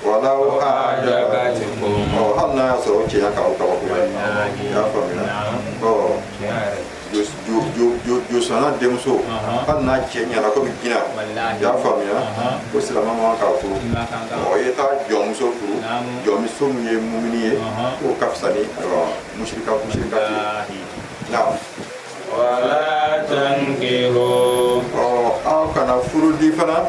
walau ajabatukum ɔ hali n'a y'a sɔrɔ o cɛɲa k'aw kabakoya i y'a faamuya ɔ josɔnna denmuso hali n'a cɛ ɲɛna komi jinɛ i y'a faamuya ko silamɛ man k'a furu ɔ i ye taa jɔnmuso furu jɔnmuso min ye mumini ye k'o ka fisa ni musirika musirika ye naam wala tankihu ɔ aw kana furu di fana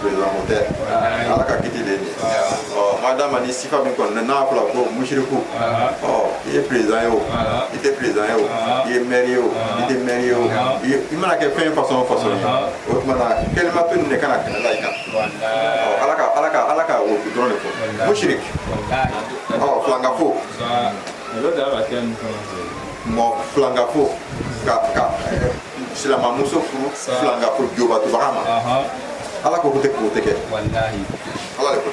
président o tɛ ala ka kiti de ye ɔ madama ni sifa min kɔni n'a fɔra ko musiriku ɔ i ye président ye o i tɛ président ye o i ye maire ye o i tɛ maire ye o i mana kɛ fɛn façon o façon ye o tuma na kɛlimatu nin de kana kɛnɛ la i kan ɔ ala ka ala ka ala ka o dɔrɔn de fɔ musirik ɔ filangafo mɔgɔ filangafo ka ka silamɛmuso furu filankafo jobatobaga ma ala ko ko tɛ k'o tɛ kɛ ala de ko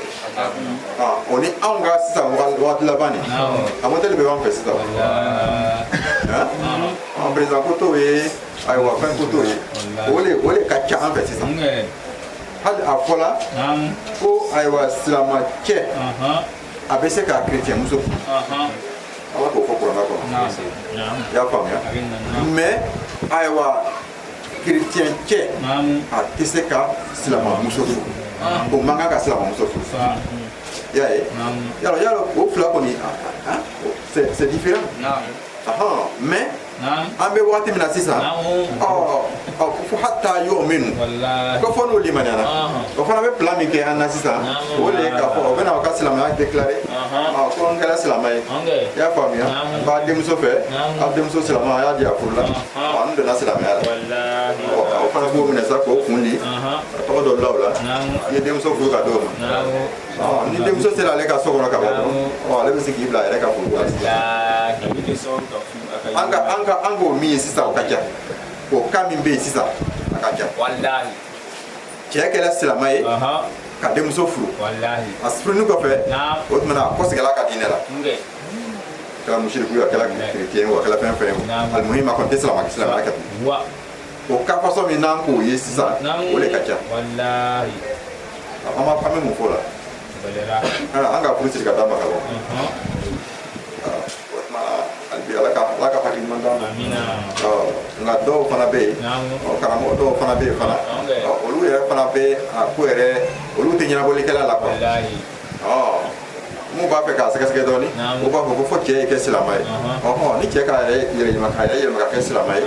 o ni anw ka sisan waati laban nin a modɛli bɛ b'an fɛ sisan an perezidan ko t'o ye ayiwa fɛn ko t'o ye o de o de ka ca an fɛ sisan hali a fɔla ko ayiwa silamɛ cɛ a bɛ se ka kerecɛnmuso furu ala k'o fɔ kurana kɔnɔ i y'a faamuya mais ayiwa kerecɛn cɛ a tɛ se ka silamɛmuso furu o man kan ka silamɛmuso furu i y'a ye yala yala o fila kɔni c'est différent mais an bɛ waati min na sisan fo hata yu'minu ko fo n'o limaniyana o fana bɛ plan min kɛ an na sisan o de ye k'a fɔ o bɛna o ka silamɛya déclarer ko n kɛra silamɛ ye i y'a faamuya n b'a denmuso fɛ a denmuso silamɛ a y'a di a furu la n donna silamɛya la o fana b'o minɛ sa k'o kun di a tɔgɔ dɔ bila o la n ye denmuso furu ka d'o ma ni denmuso sera ale ka so kɔnɔ ka ban dɔrɔn ale bɛ se k'i bila a yɛrɛ ka furu la an ka an ka an k'o min ye sisan o ka ca o ka min bɛ yen sisan a ka ca walahi cɛ kɛra silamɛ ye ka denmuso furu walahi a furuni kɔfɛ o tuma a kɔsegila a ka diinɛ la a kɛra musiriku ye a kɛra kerecɛn ye a kɛra fɛn fɛn ye alimuhima a kɔni tɛ silamɛ silamɛya kɛ o ka fasɔn min n'an k'o ye sisan o de ka ca walahi an b'a an bɛ mun fɔ o la an ka furu siri ka d'a ma ka ban nka dɔw fana bɛ yen karamɔgɔ dɔw fana bɛ yen fana olu yɛrɛ fana bɛ a ko yɛrɛ olu tɛ ɲɛnabɔlikɛla la quoi min b'a fɛ k'a sɛgɛsɛgɛ dɔɔni o b'a fɔ ko fo cɛ ye kɛ silamɛ ye ɔhɔn ni cɛ k'a yɛrɛ yɛrɛ yɛlɛma k'a yɛrɛ yɛlɛma ka kɛ silamɛ ye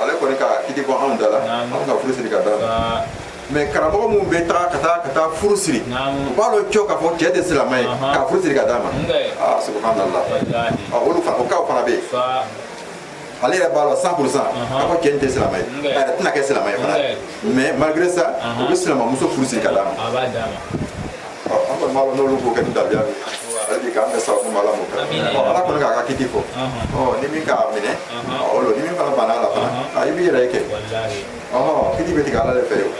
ale kɔni ka kiti bɔ anw da la anw ka furu siri ka d'a ma mais karamɔgɔ minnu bɛ taga ka taa ka taa furu siri u b'a dɔn cɔ k'a fɔ cɛ tɛ silamɛ ye k'a furu siri ka d'a ma subhanallah olu fana o kaw fana bɛ yen ale yɛrɛ b'a dɔn cent pour cent k'a fɔ cɛ in tɛ silamɛ ye a yɛrɛ tɛna kɛ silamɛ ye fana mais malgré ça u bɛ silamɛmuso furu siri ka d'a ma an kɔni b'a dɔn n'olu k'o kɛ ni dabiya ye ale de k'an bɛɛ sababu ma ala m'o kɛ ala kɔni k'a ka kiti fɔ ni min k'a minɛ o lo ni min fana banna a la fana i b'i yɛrɛ ye kɛ ɔhɔn kiti bɛ tigɛ ala de fɛ yen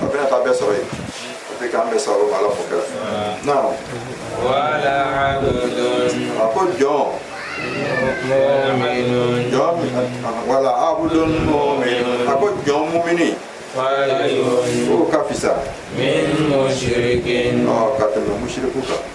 a bɛna taa bɛɛ sɔrɔ yen a bɛ k'an bɛɛ sɔrɔ ala fo kɛra naam a ko jɔn wala abudun mu'minun a ko jɔn mumini o ka fisa min mushrikin ɔ ka tɛmɛ musiriku kan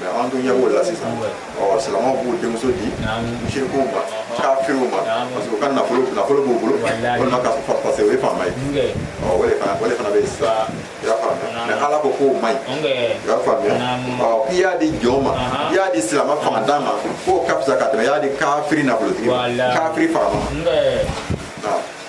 mais an dun ɲɛ b'o la sisan ɔ silamɛw b'u denmuso di mushirikuw ma kafiriw ma parce que u ka nafolo nafolo b'u bolo walima ka parce que o ye faama ye ɔ o de fana o de fana bɛ yen sisan i y'a faamuya mais ala ko k'o man ɲi i y'a faamuya ɔ k'i y'a di jɔn ma i y'a di silamɛ fangantan ma k'o ka fisa ka tɛmɛ i y'a di kafiri nafolotigi ma kafiri faama ma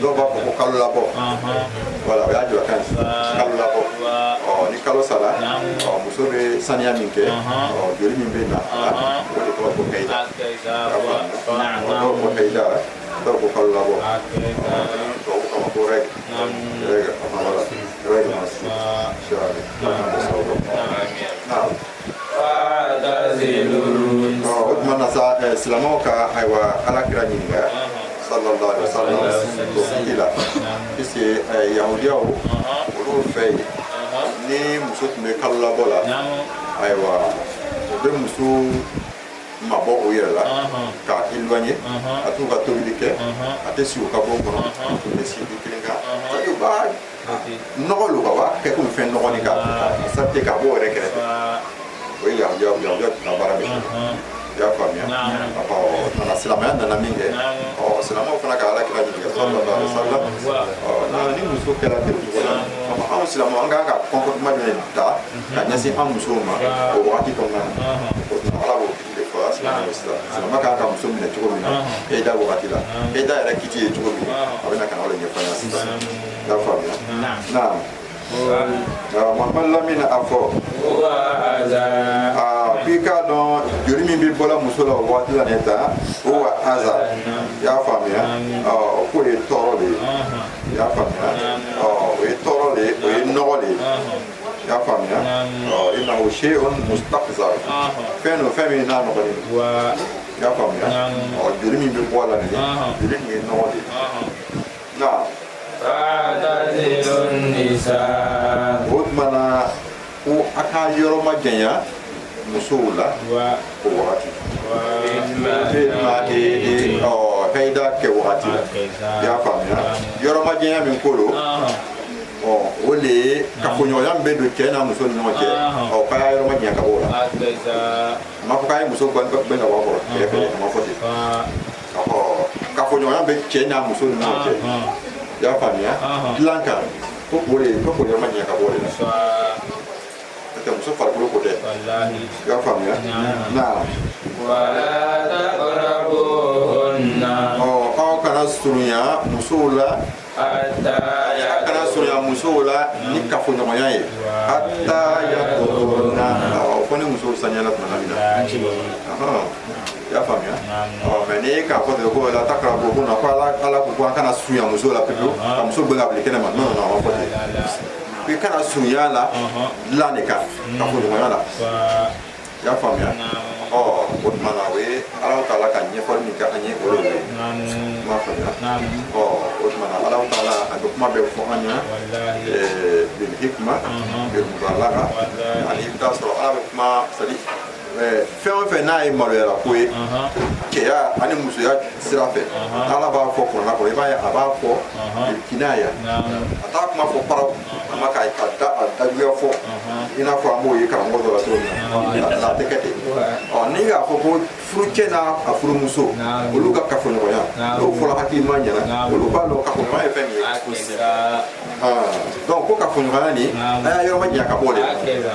dɔw b'a fɔ ko kalo labɔ wala o ye julakan kalo labɔ ni kalo sara muso bɛ saniya min kɛ joli min bɛ na o de tɔgɔ ko hayida dɔw ko hayida dɔw ko kalo labɔ tubabukan na ko règle règle a ma wala règle ma si sɔrɔ a bɛ sababu o tuma na sa eh, silamɛw ka ayiwa ala kira ɲininka sallallahu alaihi wasallam o fili la puisque eh, yahudiyaw olu fɛ yen ni muso tun bɛ kalo labɔ la ayiwa u bɛ muso mabɔ u yɛrɛ la k'a éloigner a t'u ka tobili kɛ a tɛ si u ka bon kɔnɔ u tɛ si dilan kelen kan c'est-à-dire u b'a nɔgɔ don ka wa kɛ komi fɛn nɔgɔnin k'a écarter k'a bɔ u yɛrɛ kɛrɛfɛ o ye yahudiyaw tun baara bɛ kɛ i y'a faamuya nana silamɛya nana min kɛ ɔ silamɛw fana ka ala kira ɲininka sallallahu alaihi wasallam ɔ na ni muso kɛra ten cogo la anw silamɛw an kan ka comportement jumɛn ta ka ɲɛsin an musow ma o wagati kɔnɔna na o tuma ala b'o silamɛ kan ka muso minɛ cogo min na hayida wagati la hayida yɛrɛ kiti ye cogo min a bɛna ka na o de ɲɛfɔ an ɲɛna sisan i y'a faamuya naam mamadu lamini a fɔ k'i k'a dɔn joli min bɛ bɔla muso la o waati la nin ta huwa aza i y'a faamuya k'o ye tɔɔrɔ de ye i y'a faamuya o ye tɔɔrɔ de ye o ye nɔgɔ de ye i y'a faamuya innahu shay'un mustaqzar fɛn don fɛn min n'a nɔgɔlen don i y'a faamuya joli min bɛ bɔ a la nin joli nin ye nɔgɔ de ye nka fa'tazilun nisa'a o tuma na ko a ka yɔrɔ majanya musow la o wagati hayida kɛ wagati la i y'a faamuya yɔrɔ majanya min ko don ɔ o de ye kafoɲɔgɔnya min bɛ don cɛ n'a muso ni ɲɔgɔn cɛ ɔ k'a y'a yɔrɔ majanya ka b'o la a ma fɔ k'a ye muso gɛn ka bɔ a kɔrɔ kɛrɛfɛ a ma fɔ ten ɔ kafoɲɔgɔnya bɛ cɛ n'a muso ni ɲɔgɔn cɛ i y'a faamuya dilan kan ko o de ye ko k'a y'a yɔrɔ majanya ka b'o de la n'o tɛ muso farikolo ko tɛ i y'a faamuya naam ɔ aw kana surunya musow la a kana surunya musow la ni kafoɲɔgɔnya ye hatta yathurna ɔ fɔ ni musow saniyala tuma min na i y'a faamuya ɔ mais n'i k'a fɔ ten ko la takarabuhunna ko ala ko ko an kana surunya muso la pewu ka muso gɛn ka bila kɛnɛma non non a ma fɔ ten i kana surunya a la dilan de kan kafoɲɔgɔnya la i y'a faamuya ɔ o tuma na o ye ala taala ka ɲɛfɔli min kɛ an ye o de ye i m'a faamuya ɔ o tuma na ala taala a bɛ kuma bɛɛ fɔ an ɲɛna bil hikma bil mubalaga ani i bɛ t'a sɔrɔ ala bɛ kuma c'est à dire fɛn o fɛn n'a ye maloyara ko ye cɛya ani musoya sira fɛ ala b'a fɔ kurana kɔnɔ i b'a ye a b'a fɔ kinaya a t'a kuma fɔ paraw an man kan ka a dajuguya fɔ i n'a fɔ an b'o ye karamɔgɔ dɔ la cogo min na a tɛ kɛ ten ɔ n'i k'a fɔ ko furucɛ n'a furumuso olu ka kafoɲɔgɔnya n'o fɔra hakilima ɲɛna olu b'a dɔn kafoɲɔgɔnya ye fɛn min ye donc ko kafoɲɔgɔnya nin a y'a yɔrɔ ma janya ka bɔ o de la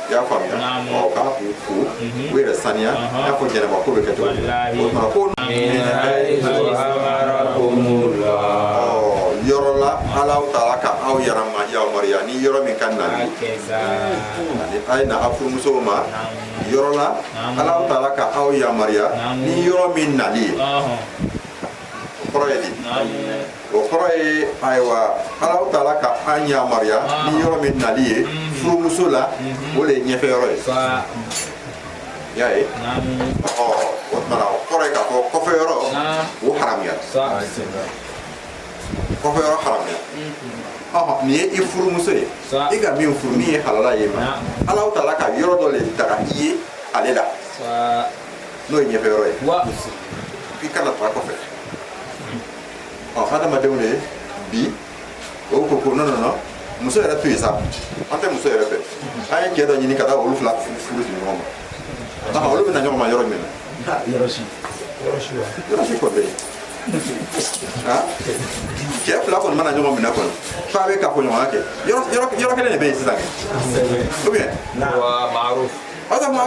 i y'a faamuya ɔ k'a k'u ko u yɛrɛ saniya i n'a fɔ janaba ko bɛ kɛ cogo min o tuma ko yɔrɔ la ala taala ka aw yɛrɛ ma yamaruya ni yɔrɔ min ka nali a ye na a furumusow ma yɔrɔ la ala taala ka aw yamaruya ni yɔrɔ min nali ye o kɔrɔ ye di o kɔrɔ ye ayiwa ala taala ka an yamaruya ni yɔrɔ min nali ye furumuso la o de ye ɲɛfɛ yɔrɔ ye i y'a ye ɔ o tuma na o kɔrɔ ye k'a fɔ kɔfɛ yɔrɔ o haramuyara kɔfɛ yɔrɔ haramuyara ɔhɔn nin ye i furumuso ye i ka min furu min ye halala ye mais ala taala ka yɔrɔ dɔ de daga i ye ale la n'o ye ɲɛfɛ yɔrɔ ye k'i kana taga kɔfɛ ɔ hadamadenw de ye bi olu ko ko non non non muso yɛrɛ to yen sa an tɛ muso yɛrɛ fɛ an ye cɛ dɔ ɲini ka taa olu fila furu di ɲɔgɔn ma aa olu bɛ na ɲɔgɔn ma yɔrɔ min na yɔrɔ si kɔfɛ ah cɛ fila kɔni mana ɲɔgɔn minɛ kɔni f'a bɛ kafoɲɔgɔnya kɛ yɔrɔ kelen de bɛ yen sisan kɛ ou bien wa maaruf Hata mwa.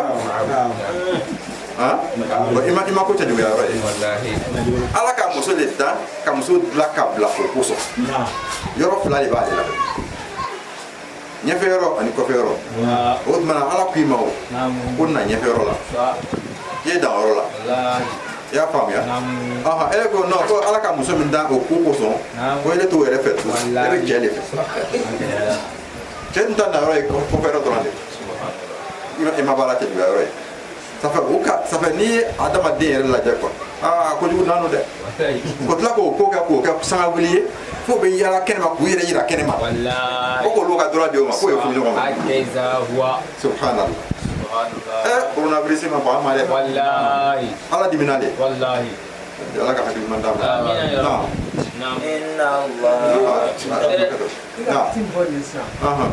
I ma ko cɛjuguya yɔrɔ ye ala ka muso de dan ka muso dilan ka bila o kosɔn yɔrɔ fila de b'ale la ɲɛfɛ yɔrɔ ani kɔfɛ yɔrɔ o tuma na ala k'i ma ko na ɲɛfɛ yɔrɔ la i ye dan yɔrɔ la i y'a faamuya ɔhɔn e ko non ko ala ka muso min dan o ko kosɔn ko ele t'o yɛrɛ fɛ tugun e bɛ cɛ de fɛ cɛ dun ta na yɔrɔ ye kɔfɛ yɔrɔ dɔrɔn de i ma baara cɛjuguya yɔrɔ ye ça fait o ka ça fait n'i ye adamaden yɛrɛ lajɛ quoi aa kojugu nanu dɛ o tila k'o ko kɛ k'o kɛ sangawuli ye fo o bɛ yaala kɛnɛma k'u yɛrɛ yira kɛnɛma ko k'olu ka droit di o ma k'o ye furu ɲɔgɔn ma subhanallah ɛ coronavirus ma bɔ an ma dɛ ala dimina de ala ka hakili ɲuman d'an ma naam naam inna allah naam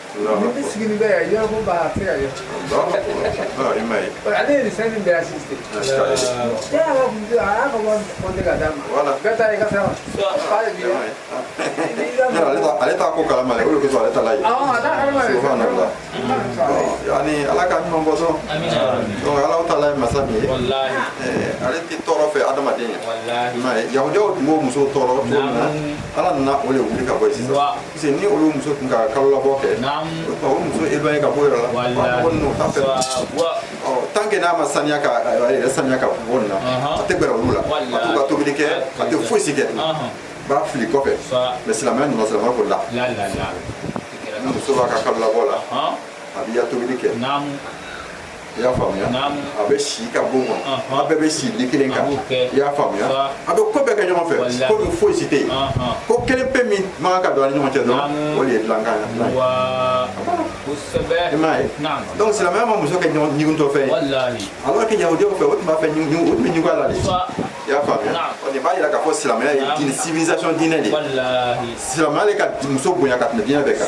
ale t'a ko kalama ale yanni ala ka ɲuman bɔ sɔn donc ala taala ye masa min ye ale tɛ tɔɔrɔ fɛ adamaden ye i m'a ye yahudiyaw tun b'o muso tɔɔrɔ cogo min na ala nana o de wuli ka bɔ yen sisan Parce ni olu muso tun ka kalo labɔ kɛ muso éloigné ka bɔ yɔrɔ la tant que n'a ma saniya saniya ka bɔ na a tɛ gɛrɛ olu la ka tobili kɛ a tɛ foyisi kɛ b'a fili kɔfɛ mais silamɛya ɲuman silamɛya ko la ni muso b'a ka kalo labɔ la a b'i ya tobili kɛ i y'a faamuya a bɛ si i ka bon kɔnɔ a bɛɛ bɛ si lit kelen kan i y'a faamuya a bɛ ko bɛɛ kɛ ɲɔgɔn fɛ ko min foyi si tɛ yen ko kelen pe min man kan ka don a ni ɲɔgɔn cɛ dɔrɔn o de ye dilankan ye i m'a ye donc silamɛya ma muso kɛ ɲigintɔ fɛn ye alors que yahudiyaw fɛ o tun b'a fɛ o tun bɛ ɲugun a la de i y'a faamuya o de b'a yira k'a fɔ silamɛya ye diinɛ civilisation diinɛ de ye silamɛya de ka muso bonya ka tɛmɛ diinɛ bɛɛ kan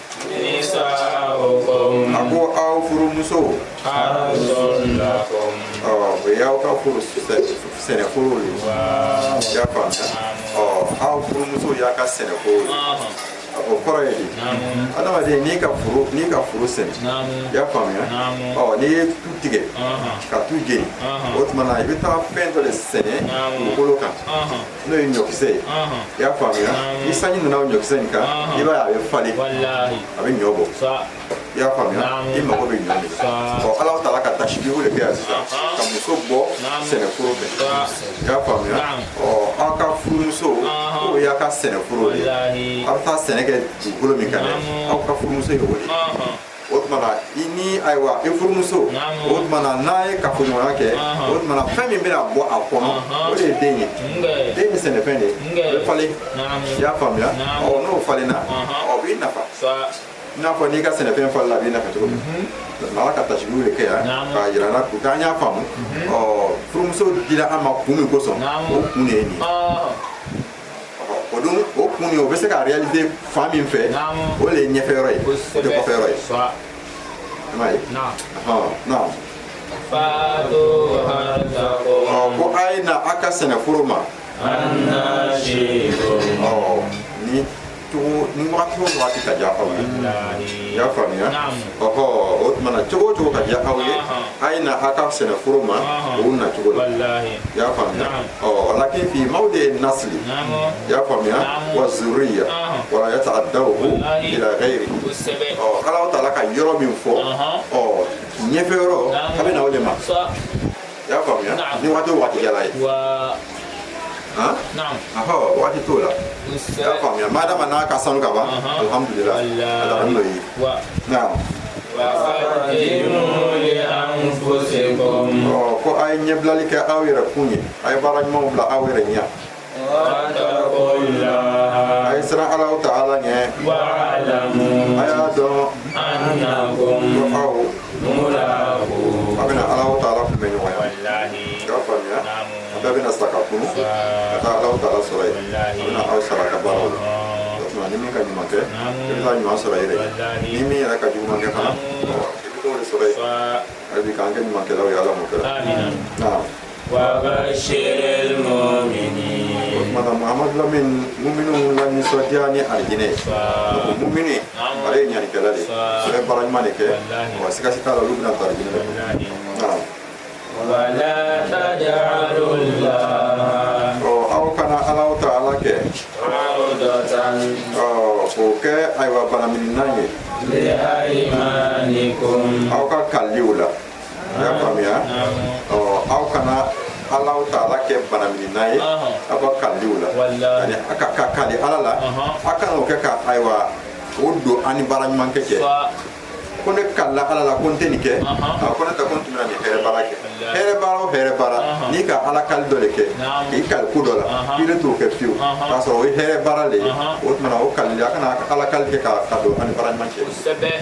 furumuso o y'aw ka furu sɛnɛforo ye i y'a faamuya aw furumuso y'a ka sɛnɛforo ye o kɔrɔ ye di adamaden n'i ka foro n'i ka foro sɛnɛ i y'a faamuya ɔ n'i ye tu tigɛ ka tu jeni o tuma na i bɛ taa fɛn dɔ de sɛnɛ dugukolo kan n'o ye ɲɔkisɛ ye i y'a faamuya ni sanji nana o ɲɔkisɛ in kan i b'a ye a bɛ falen a bɛ ɲɔ bɔ i y'a faamuya i mago bɛ ɲɔ de la ɔ ala taala ka tasibihu de kɛ yan sisan ka muso bɔ sɛnɛforo fɛ i y'a faamuya ɔ aw ka furumuso k'o y'a ka sɛnɛforo de ye aw bɛ taa sɛnɛ kɛ dugukolo min kan dɛ aw ka furumuso ye o de ye o tumana i ni ayiwa i furumuso o tumana n'a ye kafoɲɔgɔnya kɛ o tumana fɛn min bɛna bɔ a kɔnɔ o de ye den ye den ye sɛnɛfɛn de ye o bɛ falen i y'a faamuya ɔ n'o falenna o b'i nafa i n'a fɔ n'i ka sɛnɛfɛn falenna a b'i nafa cogo min ala ka tasibihu de kɛ yan k'a yira an na ko k'an y'a faamu ɔ furumuso dira an ma kun min kosɔn o kun de ye nin ye o dun o kun ye o bɛ se ka réaliser fan min fɛ o de ye ɲɛfɛ yɔrɔ ye o tɛ kɔfɛ yɔrɔ ye i m'a ye naam ko a ye na a ka sɛnɛforo ma ni ni wagati o wagati ka diya aw ye i y'a faamuya ɔhɔ o tuma na cogo o cogo ka diya aw ye a ye na a ka sɛnɛforo ma o na cogo la i y'a faamuya walakin fi mawdi nasli i y'a faamuya wa zuriya wala yataadahu ila gayiri ɔ ala taala ka yɔrɔ min fɔ ɔ ɲɛfɛ yɔrɔ a bɛ na o de ma i y'a faamuya ni waati o waati ka diya a ye ahɔ waati t'o la i y'a faamuya madama n'a ka sanu ka ban alhamdulila a taara n'o ye naam ko a ye ɲɛbilali kɛ aw yɛrɛ kun ye a ye baara ɲumanw bila aw yɛrɛ ɲɛ a ye siran ala taala ɲɛ a y'a dɔn ko aw a bɛna ala taala kunbɛn ɲɔgɔnya i y'a faamuya a bɛɛ bɛna sa ka kunu ka taa ala taala sɔrɔ yen a bɛna aw sara a ka baaraw la o tuma ni min ka ɲuman kɛ i bɛ taa ɲuman sɔrɔ i yɛrɛ ye ni min yɛrɛ ka juguman kɛ fana i bɛ t'o de sɔrɔ yen hali bi k'an kɛ ɲumankɛlaw ye ala m'o kɛla naam O tuma na mahamadu lamini muminu lanisɔndiya ni alijinɛ muminu ale ye ɲanikɛla de sɛ baara ɲuman de kɛ wa sikasika t'a la olu bɛna taa alijinɛ aw kana ala taala kɛ o kɛ ayiwa banamini ye aw ka kaliw la i y'a faamuya ɔ aw kana ala taala kɛ banamininna ye aw ka kaliliw la yani a ka kali ala la a kana o kɛ ka ayiwa o don an ni baara ɲuman kɛ cɛ ko ne kalila ala la ko n tɛ nin kɛ a ko ne tɛ ko n tun bɛna nin hɛrɛ baara kɛ hɛrɛ baara o hɛrɛ baara n'i ka ala kali dɔ de kɛ k'i kali ko dɔ la k'i ne t'o kɛ fiyewu k'a sɔrɔ o ye hɛrɛ baara de ye o tuma na o kalili a kana ala kali kɛ ka don an ni baara ɲuman cɛ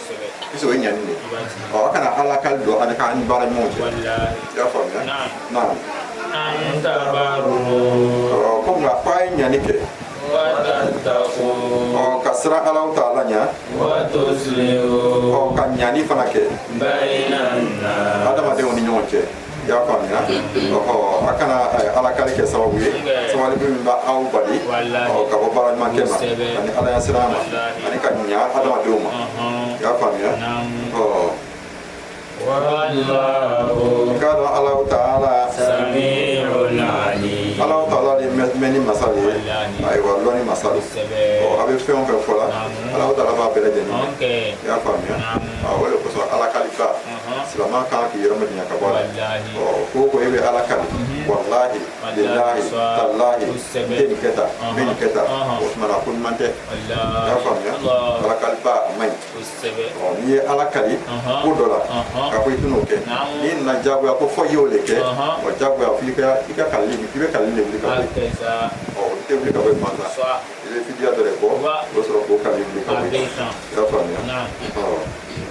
Puisque o ye ɲani de aw kana ala kali don ani k'an ni baara ɲuman cɛ i y'a faamuya naam ko nka k'a ye ɲani kɛ ka siran ala taala ɲa ka ɲani fana kɛ adamadenw ni ɲɔgɔn cɛ i y'a faamuya ɔhɔ a kana eh, ala kali kɛ sababu ye sabali min bɛ aw bali ka bɔ baara ɲuman kɛ ma ani ala yasiran ma ani ka ɲa adamadenw ma i y'a faamuya ɔ k'a dɔn alahu taala alahu taala de mɛnni masa de ye ayiwa lɔnni masa don ɔ a bɛ fɛn o fɛn fɔ la alahu taala b'a bɛɛ lajɛlen i y'a faamuya o de kosɔn ala kaliba silamɛ ka kan k'i yɛrɛ minɛ ka bɔ a la ko ko e bɛ ala kali walahi bilahi talahi n tɛ nin kɛ tan n bɛ nin kɛ tan o tumana ko ɲuman tɛ i y'a faamuya ala kaliba a man ɲi n'i ye ala kali ko dɔ la ka ko i tɛna o kɛ n'i nana jagoya ko fɔ i y'o de kɛ wa jagoya f'i ka i ka kalili i bɛ kalili de wuli ka bɔ yen ɔ o tɛ wuli ka bɔ yen gansan i bɛ fidiya dɔ de bɔ o bɛ sɔrɔ k'o kalili wuli ka bɔ yen i y'a faamuya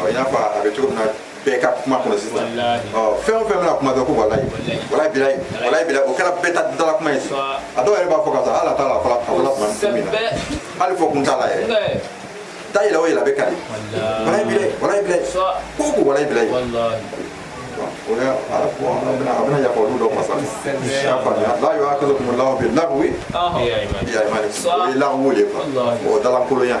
ɔ i n'a fɔ a bɛ cogo min na bɛɛ ka kuma kɔnɔ sisan ɔ fɛn o fɛn bɛna kuma dɔrɔn ko walayi walayi bilayi walayi bilayi o kɛra bɛɛ ta dala kuma ye sisan a dɔw yɛrɛ b'a fɔ k'a sɔrɔ hali a t'a lɔn a fɔla a fɔla tuma min na hali fɔ kun t'a la yɛrɛ da yɛlɛ o yɛlɛ a bɛ kali walayi bilayi walayi bilayi ko ko walayi bilayi o la ala ko a bɛna a bɛna yafa olu dɔw ma sa i y'a faamuya la yuwakizukumu lahu bi lawi fi ayimanikum o ye lawi de ye quoi o dalankolonya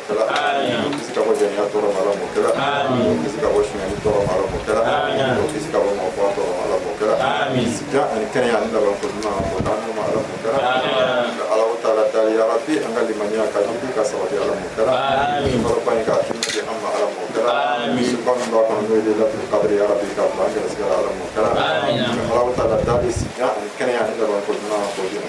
kɛla k'u kisi ka bɔ jɛnɛya tɔɔrɔ ma ala m'o kɛla k'u kisi ka bɔ sunyali tɔɔrɔ ma ala m'o kɛla k'u kisi ka bɔ mɔgɔfaga tɔɔrɔ ma ala m'o kɛla sijan ani kɛnɛya ani laban ko ɲuman k'o d'an n'u ma ala m'o kɛla ka alahu taala dali ya rabi an ka limaniya ka jiidi ka sabati ala m'o kɛla kaloba in k'a tɔnɔ di an ma ala m'o kɛla suba min b'a kɔnɔ n'o ye layilatu kadiri ya rabi k'a bila an gɛrɛsigɛ la ala m'o kɛla alahu taala dali sijan ani kɛnɛya ani laban ko ɲuman k'o d'an n'u ma ala m'o kɛla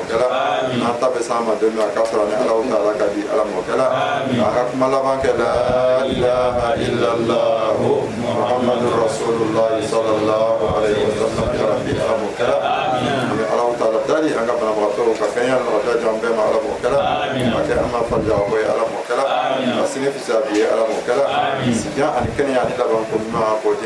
kɛra n'an taa bɛ se an ma don min k'a sɔrɔ an ni alahu taala ka di ala m'o kɛla k'an ka kuma laban kɛ la ilaha ilalahu muhamadu rasululahi salalahu alayihi wa salama ya rabi ala m'o kɛla ka alahu taala dali an ka banabagatɔ ka kɛnɛya nɔgɔya jɔn bɛɛ ma ala m'o kɛla a kɛ an ma fari jaka bɔ ye ala m'o kɛla an sini fisaya bi ye ala m'o kɛla sijan ani kɛnɛya ani laban ko ɲuman k'o di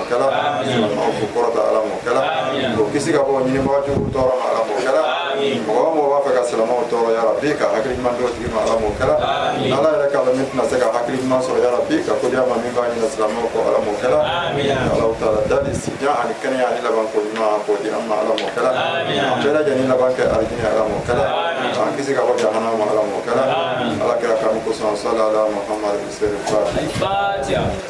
kɛla silamɛw kunkɔrɔta ala m'o kɛla k'u kisi ka bɔ ɲinibaga jugu tɔɔrɔ ma ala m'o kɛla mɔgɔ o mɔgɔ b'a fɛ ka silamɛw tɔɔrɔ ya rabi ka hakili ɲuman d'o tigi ma ala m'o kɛla ala yɛrɛ k'a lɔn min tɛna se ka hakili ɲuman sɔrɔ ya rabi ka ko di a ma min b'a ɲina silamɛw kɔ ala m'o kɛla alahu taala dali sijan ani kɛnɛya ani laban ko ɲuman k'o di an ma ala m'o kɛla an bɛɛ lajɛlen laban kɛ alijini ala m'o kɛla an kisi ka bɔ jahanama ala m'o kɛla ala kira kanu kosɔn sala ala muhammadu sɛri fati